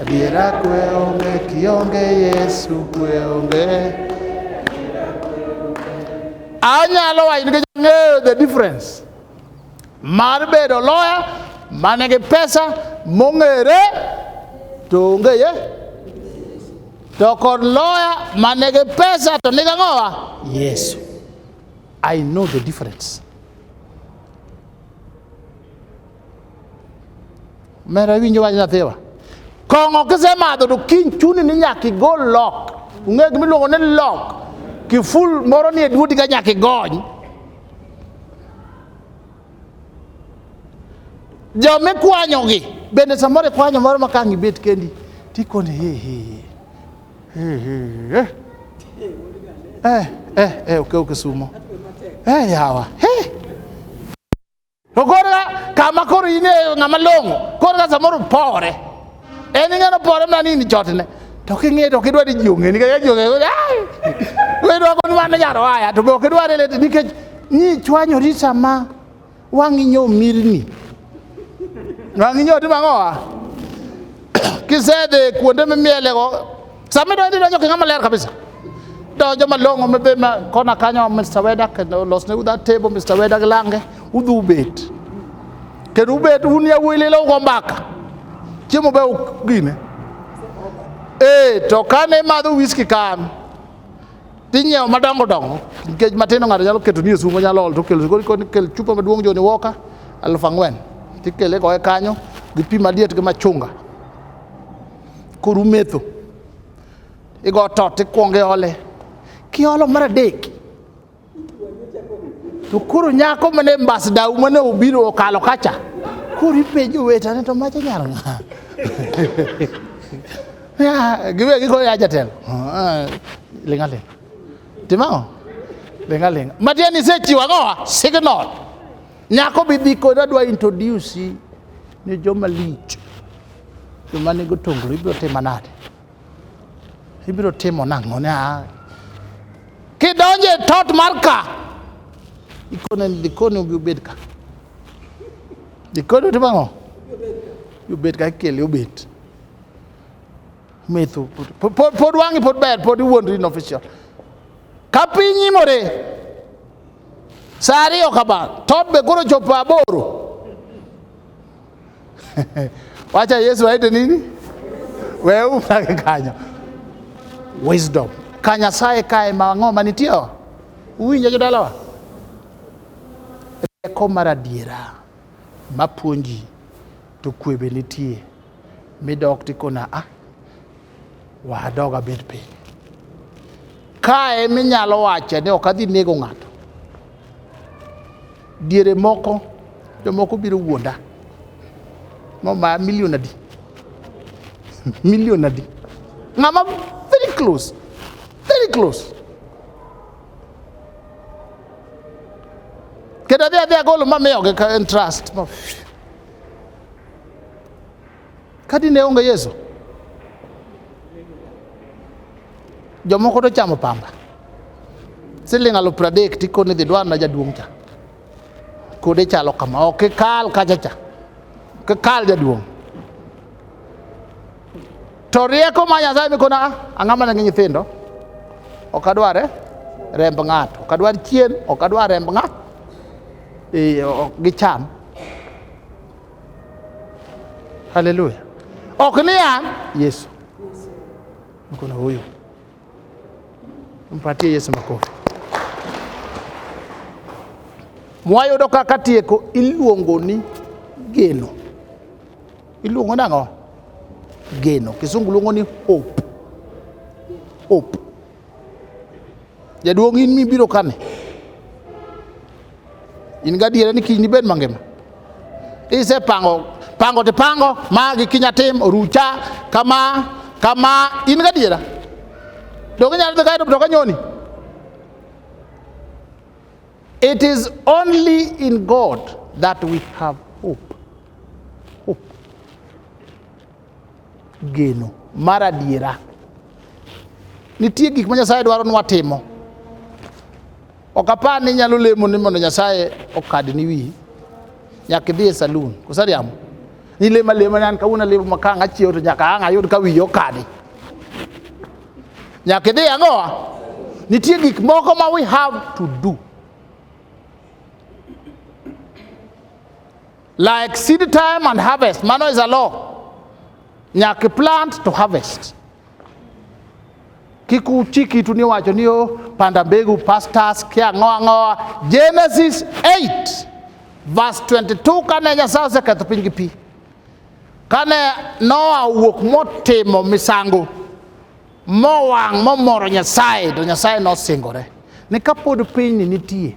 Adiera kwe onge kionge Yesu kwe onge. Anyalo wacho nikech ang'eyo the difference mar bedo loya mane gi pesa mong'ere to onge ye to kod loya mane gi pesa to niga ng'owa Yesu. I know the difference. Mera winjo wach nathiwa. Kong'o kisemadho to kiny chuni ni nyaka igol lok. Ung'e gima iluongo ni lok. Kiful moro ni e duodi ka nyaka igony. Jo mikwanyogi bende samoro ikwanyo moro ma kang' ibet kendi tikoni he he he he he eh eh eh okew kisumo eh yawa he To korka kama koro in e ng'ama long'o, korka samoro pore. En ing'ano pore mana ni in chotne. To king'e to kidwa ni ji ong'e nikech ji ong'e ai. Wedwa kon mana nyaro haya to be ok idwar ele nikech ni chwanyori sama wang'i nyo mirni. Wang'i nyo timo ang'owa? Kisedhi kuonde mimielego Sami do ndiro joke ngama ler kabisa. Do joma longo me be ma kona kanyo Mr. Weda kendo los ne uda table Mr. Weda glange udhu bet. Kendo ubet un ya wili lo go mbaka. Chiemo be gine. Eh to kane madho whisky kan. Tinyiewo madongo dongo nikech matindo ng'ato nyalo keto ni e sumo nyalo ol to kelo kel chupa maduong' joni woka aluf ang'wen tikele goye kanyo gi pi maliet gi machunga koro umetho igo tot ikwongo iole kiolo mar adek to koro nyako mane ambassador mane obiro okalo kacha koro ipenjo wetane to macha nyar ng'a Ya, giwe giko ya jatelo Ah, linga linga timao linga linga matiani sechiwa goa signal Nyako bidhi koda dwa introduce ni joma lich. Joma nigo tonglo ibiro timo nade? Ibiro timo nang'o ne? Ah. Kidonje e tot mar ka. Ikone ni dikoni ubi ubed ka. Dikoni utimo ang'o? Ubed ka ikele ubet. Metho. Pod wang'i pod ber pod iwuondri ni official. Ka piny imore. Saa ariyo kama, tobe koro chopo aboro. Wacha Yesu aite nini? Wewe mlake kanyo. Wisdom. Kanya sae kae ma ng'o manitie? Uwinjo jodalawa? Rieko mar adiera mapuonji to kwe be nitie midok tikona ah Wadog abed piny. Ka ema inyalo wache ni ok adhi nego ng'ato. Diere moko jomoko biro wuonda. Mama milion adi? Milion adi? Ng'ama very close. Very close. Kendo adhi adhi agolo mamiyogi ka en trust. Ka dine onge Yesu, jomoko to chamo pamba siling' alufu pradek tikone dhi dwarna jaduong' cha kode chalo kama ok ikal kacha cha ok ikal jaduong' to rieko ma nyasaye mikona ang'a mana gi nyithindo ok adware remb ng'ato ok adwar chien ok adwar remb ng'a eh, ok gicham Haleluya! Oknia Yesu, mkono huyu, mpatie Yesu makofi. Mwayudo kaka tieko iluongo ni geno. Iluongo nang'o? Geno. Kisungu luongo ni hope. Hope. Jaduong' in mibiro kane? In gadiera ni kiny nibed mangima? Isepango pango to pango ma gi kinya tim orucha kama kama in gadiera? Donge inyalo dhi kae to mtoka nyoni? It is only in God that we have Geno mar adiera. Nitie gik ma Nyasaye dwaro ni watimo. Ok apar ni inyalo lemo ni mondo Nyasaye okadni wiyi. Nyaka idhi e salun. Koso ariambo? Ni lemo alema ni an kawuono alemo ma ka ang' achiewo to nyaka ang' ayud ka wiyi okadi. Nyaka idhi ang'owa? Nitie gik moko ma we have to do. Like seed time and harvest, mano is a law. Nyaka plant to harvest. Kik uchi kitu ni wacho ni o panda mbegu pastors kia ngoa ngoa. Genesis 8 verse 22 kane Nyasaye oseketho piny gi pi. Kane Noa wuok motimo misango mowang' momoro Nyasaye to Nyasaye nosingore ni kapod pinyni nitie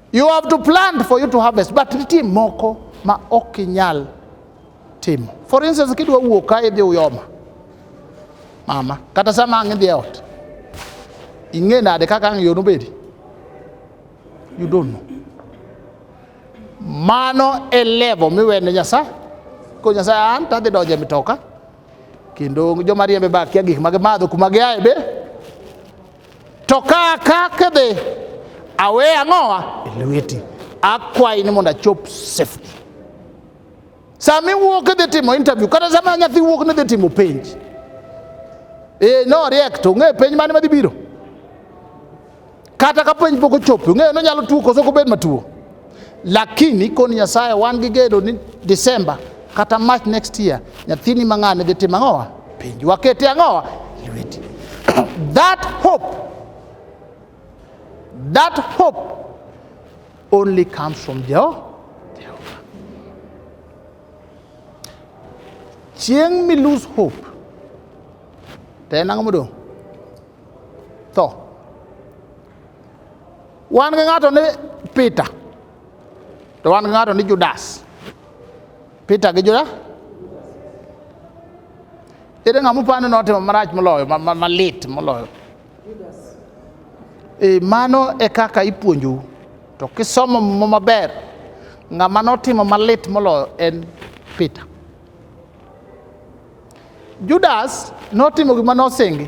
You have to plant for you to harvest, but nitie moko ma ok inyal timo. For instance, kidwa wuok ka idhi uyoma mama, kata sama ang' idhi e ot, ing'e nade kaka ang' yo nobedi? You don't know. Mano e level miwene Nyasaye. Ko Nyasaye an tadhi donjo e mitoka kendo joma riembe ba kia gik ma gimadho kuma giaye be To ka akake be awe ang'owa e lweti, akwayi ni mondo achop safety. Sama iwuok idhi timo interview, kata sama nyathi wuok ni dhi timo penj, e no riek to ong'eyo penj mane madhi biro, kata ka penj pok ochopo, ong'eyo nonyalo tuo koso kobed matuo. lakini koni nyasaye wan gi gedo ni December kata March next year nyathini mang'ane dhi timo ang'owa penj wakete ang'owa lweti that hope that hope only comes from Jehovah chieng' mi lose hope to en ang'o modong' tho wan gi ng'ato ni Peter to wan gi ng'ato ni Judas Peter gi Judas ere ng'ama upani notimo marach moloyo malit moloyo e, mano e kaka ipuonjou to kisomo mo maber ng'ama notimo malit moloyo en Peter Judas notimo gima nosingi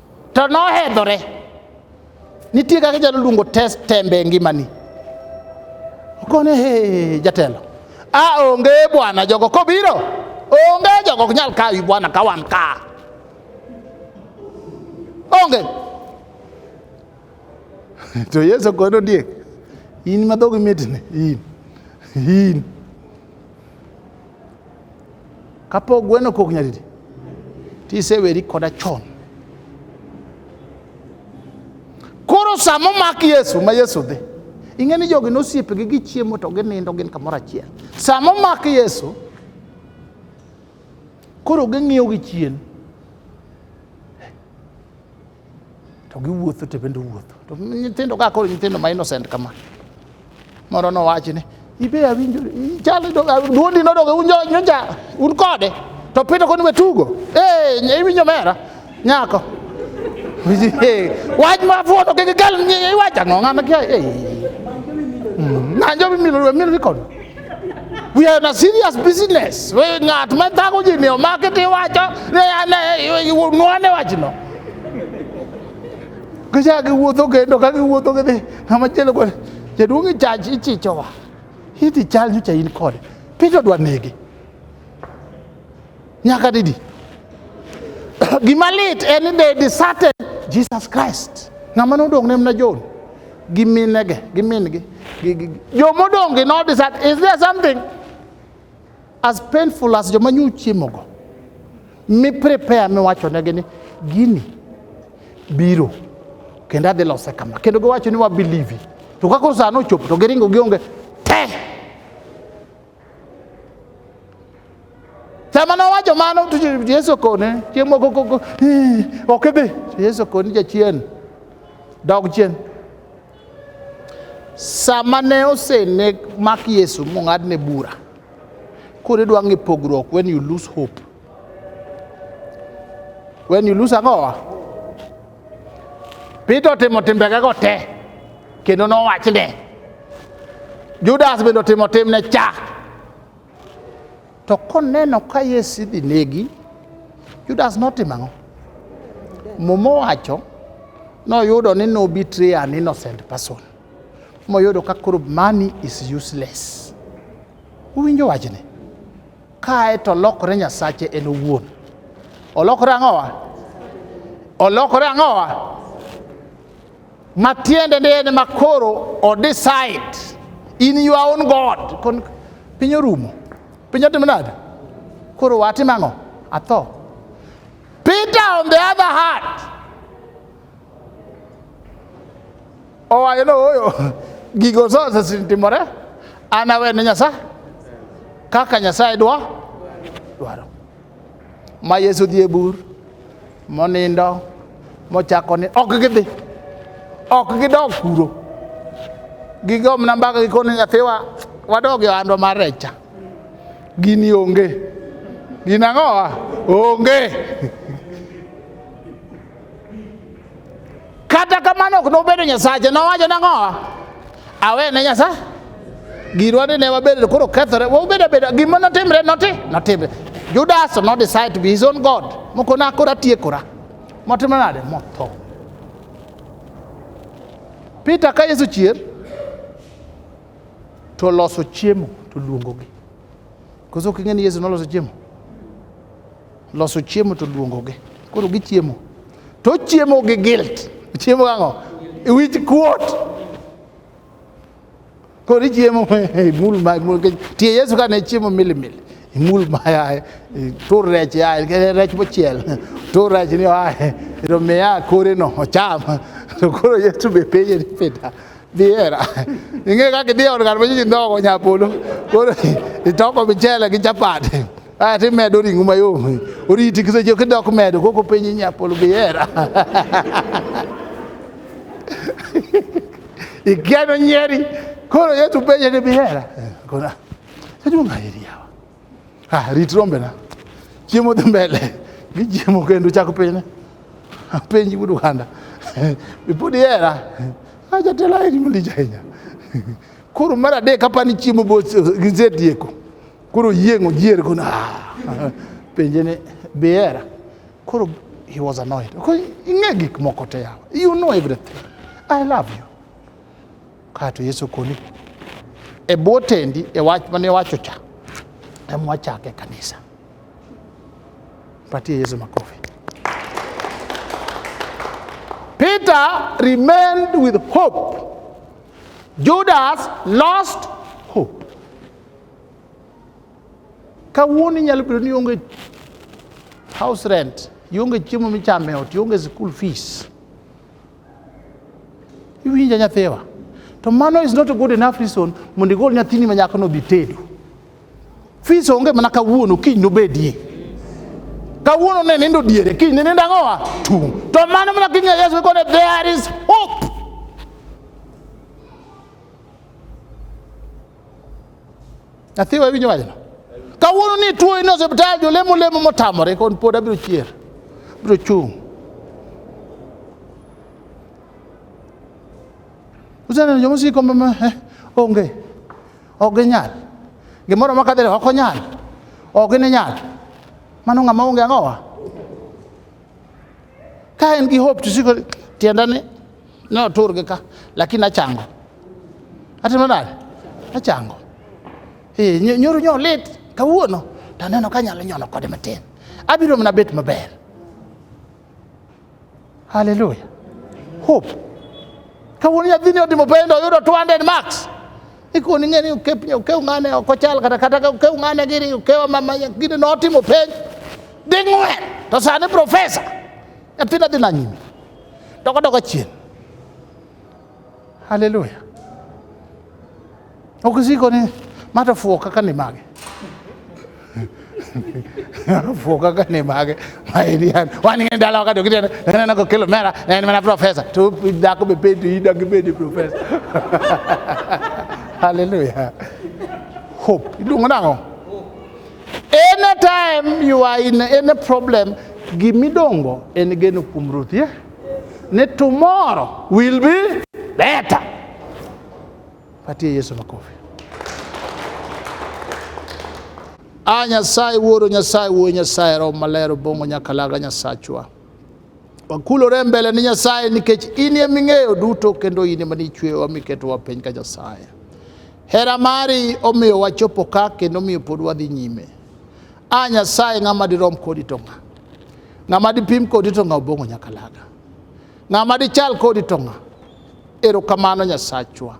to nohedhore nitie kaka inyalo luongo test tembe e ngimani okone he jatelo a onge bwana jogo kobiro onge jogo ok nyal kawi bwana ka wan ka onge to yesu kod ondiek in madhogi mitne in in kapok gweno kok nyadidi tiseweri koda chon koro sama omak yesu ma yesu dhi ing'e ni jogi nosiepegi gichiemo to ginindo gin kamoro achiel sama omak yesu koro ging'iyo gi chien to giwuotho to bende wuotho to nyithindo ka koro nyithindo ma innocent kama moro nowachi ni ibe awinjo chal duondi nodok unjo nyocha un kode to pito koni we tugo eh iwinjo mera nyako wach ma fuoto kik kel iwacho ang'o ng'ama kia eh ng'anjo mimilo mimilo kod We are in a serious business. We ngat ma thago ji ni omaki ti wacho ne ane nwane wachno. Gicha giwuotho kendo ka giwuotho gidhi ng'ama chielo kod jaduong' e chach ichichowa. Idhi chal nyocha in kode. Piny odwa nege. Nyaka didi. Gima lit en ni they deserted Jesus Christ. Ng'ama nodong' ne mna John gi minege gi mingi gi gi joma odong' gi no desert is there something as painful as joma nyu chiemogo mi prepare miwacho negi ni gini biro kendo adhi lose kama kendo giwacho ni wabelieve to kaka sano ochopo to giringo gionge te Sama nowacho mano to Yesu kone chieng' moko koko ok idhi to Yesu kone jachien dog chien. Sama ne osene mak Yesu mong'adne bura koro idwa ng'e pogruok when you lose hope when you lose ang'owa Peter otimo timbegego te kendo nowachne. Judas bende otimo timne cha. To koneno ka Yesu idhi negi, Judas notimo ang'o? Muma owacho noyudo ni nobitre an innocent person moyudo ka koro money is useless. Uwinjo wachni? kae to olokore nyasache en owuon olokore ang'owa olokore ang'owa matiende ni en makoro odecide in your own god Kon, piny orumo piny otimo nade koro watim ang'o atho peter on the other hand Owacho ni ooyo, gigo sose sitimore, an awe ne Nyasaye kaka Nyasaye dwa dwaro. Ma Yesu dhi e bur monindo mochako ni ok gidhi ok gidog kuro gigomna mbaka gikoni nyathiwa wadog e ohandwa mar rech cha gini onge gin ang'owa onge Kata kamano ok nobedo Nyasache, nowacho nang'owa, awe ne Nyasaye. Girwa ni ne wabedo koro kethore, wabedo bedo gima notimre noti, notimre. Judas no decide to be his own God. Moko na kora tiekora. Motimo nade? Motho. Peter ka Yesu chier to loso chiemo to luongogi. Koso king'e ni Yesu noloso chiemo. loso chiemo to luongogi koro gichiemo to chiemo gi guilt chiemo ang'o wich kuot koro ichiemo imul ma imul kech tie yesu ka ne chiemo milimili imul ma yaye tur rech yaye kene rech mochiel tur rech ni yaye to miya kore no ocham to koro yesu be penje ni pita biera ing'e kaka idhi e od ng'at ma nyinyi ndhogo nyapolo koro itoko michele gi chapati Ah, ti medo ringo mayom. Oriti kise jo kidok medo koko penyi nyapolo bi era. Igeno nyeri. Koro yetu penye ni bi era. Kona. Sadu ngayeri yawa. Ah, rit rombe na. Chiemo dhi mbele. Gichiemo kendo chako penye. Penji wudu kanda. Bipudi era. Aja tela eri mulija hinya. Koro mara de kapani chiemo bo gizetieko. Koro yieng' ojier go na. Penje ni bihera. Koro he was annoyed. Koro ing'e gik moko te yawa. You know everything. I love you. Kato Yesu koni. E bwo tendi e wach mane wacho cha. Em wachake kanisa. Patie Yesu makofi. Peter remained with hope. Judas lost Kawuono inyalo bedo ni ionge house rent, ionge chiemo michamo e ot, ionge school fees. Iwinja nyathiwa. To mano is not a good enough reason mondo igol nyathini ma nyako nodhi tedo. Fees onge mana kawuono, kiny nobedie. Kawuono ne nindo diere, kiny ne nindo ang'owa? Tung'. To mano mana kinya Yesu ikone there is hope. Athiwa winyo wajno. Kawuono ni tuo in osiptal jolemo lemo motamore kon pod abiro chier. Biro chung'. Useneno joma siko mama eh, onge. Ok ginyal. Gimoro ma kadhele ok onyal. Ok ginyal. Mano ng'ama onge ang'owa. Ka en gi hope to siko tiendane Ne oturgi ka, lakini achango. Atimo nade? Achango. Eh, nyo- nyoro nyo lit kawuono to aneno ka anyalo nyono kode matin. Abiro mana bet maber. Haleluya. Hope. Kawuono nyathini otimo pendo oyudo 200 marks. Ikoni ng'e ni ukep ukew ng'ane ok ochal kata kata ka ukew ng'ane gini ukew mama gini notimo penj ding'wen to sani profesa nyathina dhi na nyime. doko doko chien. Haleluya. Ok isiko ni ma to fuwo kaka ni mage. fuwo kaka ni mage ma eri an wan ing'e dala wakati okitene neno kokelo mera ne en mana profesa to dhako be penjo in dagi bedi profesa haleluya hope iluongo nang'o Anytime you are in any problem, gimidongo en geno kuom Ruth, yeah? Ne tomorrow will be better. Patie Yesu makofi. A ah, Nyasaye wuoro, Nyasaye wuoyo, Nyasaye roho maler obong'o nyakalaga Nyasachwa. wakulore mbele ni Nyasaye nikech in e ming'eyo duto kendo in ema nichweyowa miketowa piny ka Nyasaye. Hera mari omiyo wachopo ka kendo omiyo pod wadhi nyime. A Nyasaye ng'ama dirom kodi to ng'a? Ng'ama dipim kodi to ng'a obong'o nyaka laga. Ng'ama dichal kodi to ng'a? Erokamano Nyasachwa.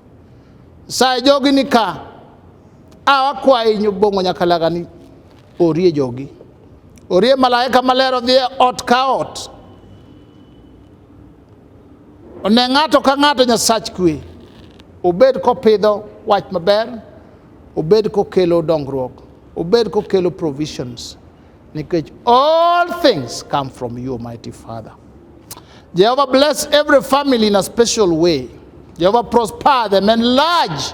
Nyasaye jogi ni ka a wakwayi nyobong'o nyaka laga ni Orie jogi, orie malaika maler odhi e ot ka ot, one ng'ato ka ng'ato Nyasach kwe, obed kopidho wach maber, obed kokelo dongruok, obed kokelo provisions nikech all things come from you, Almighty Father. Jehovah bless every family in a special way. Jehovah prosper them, enlarge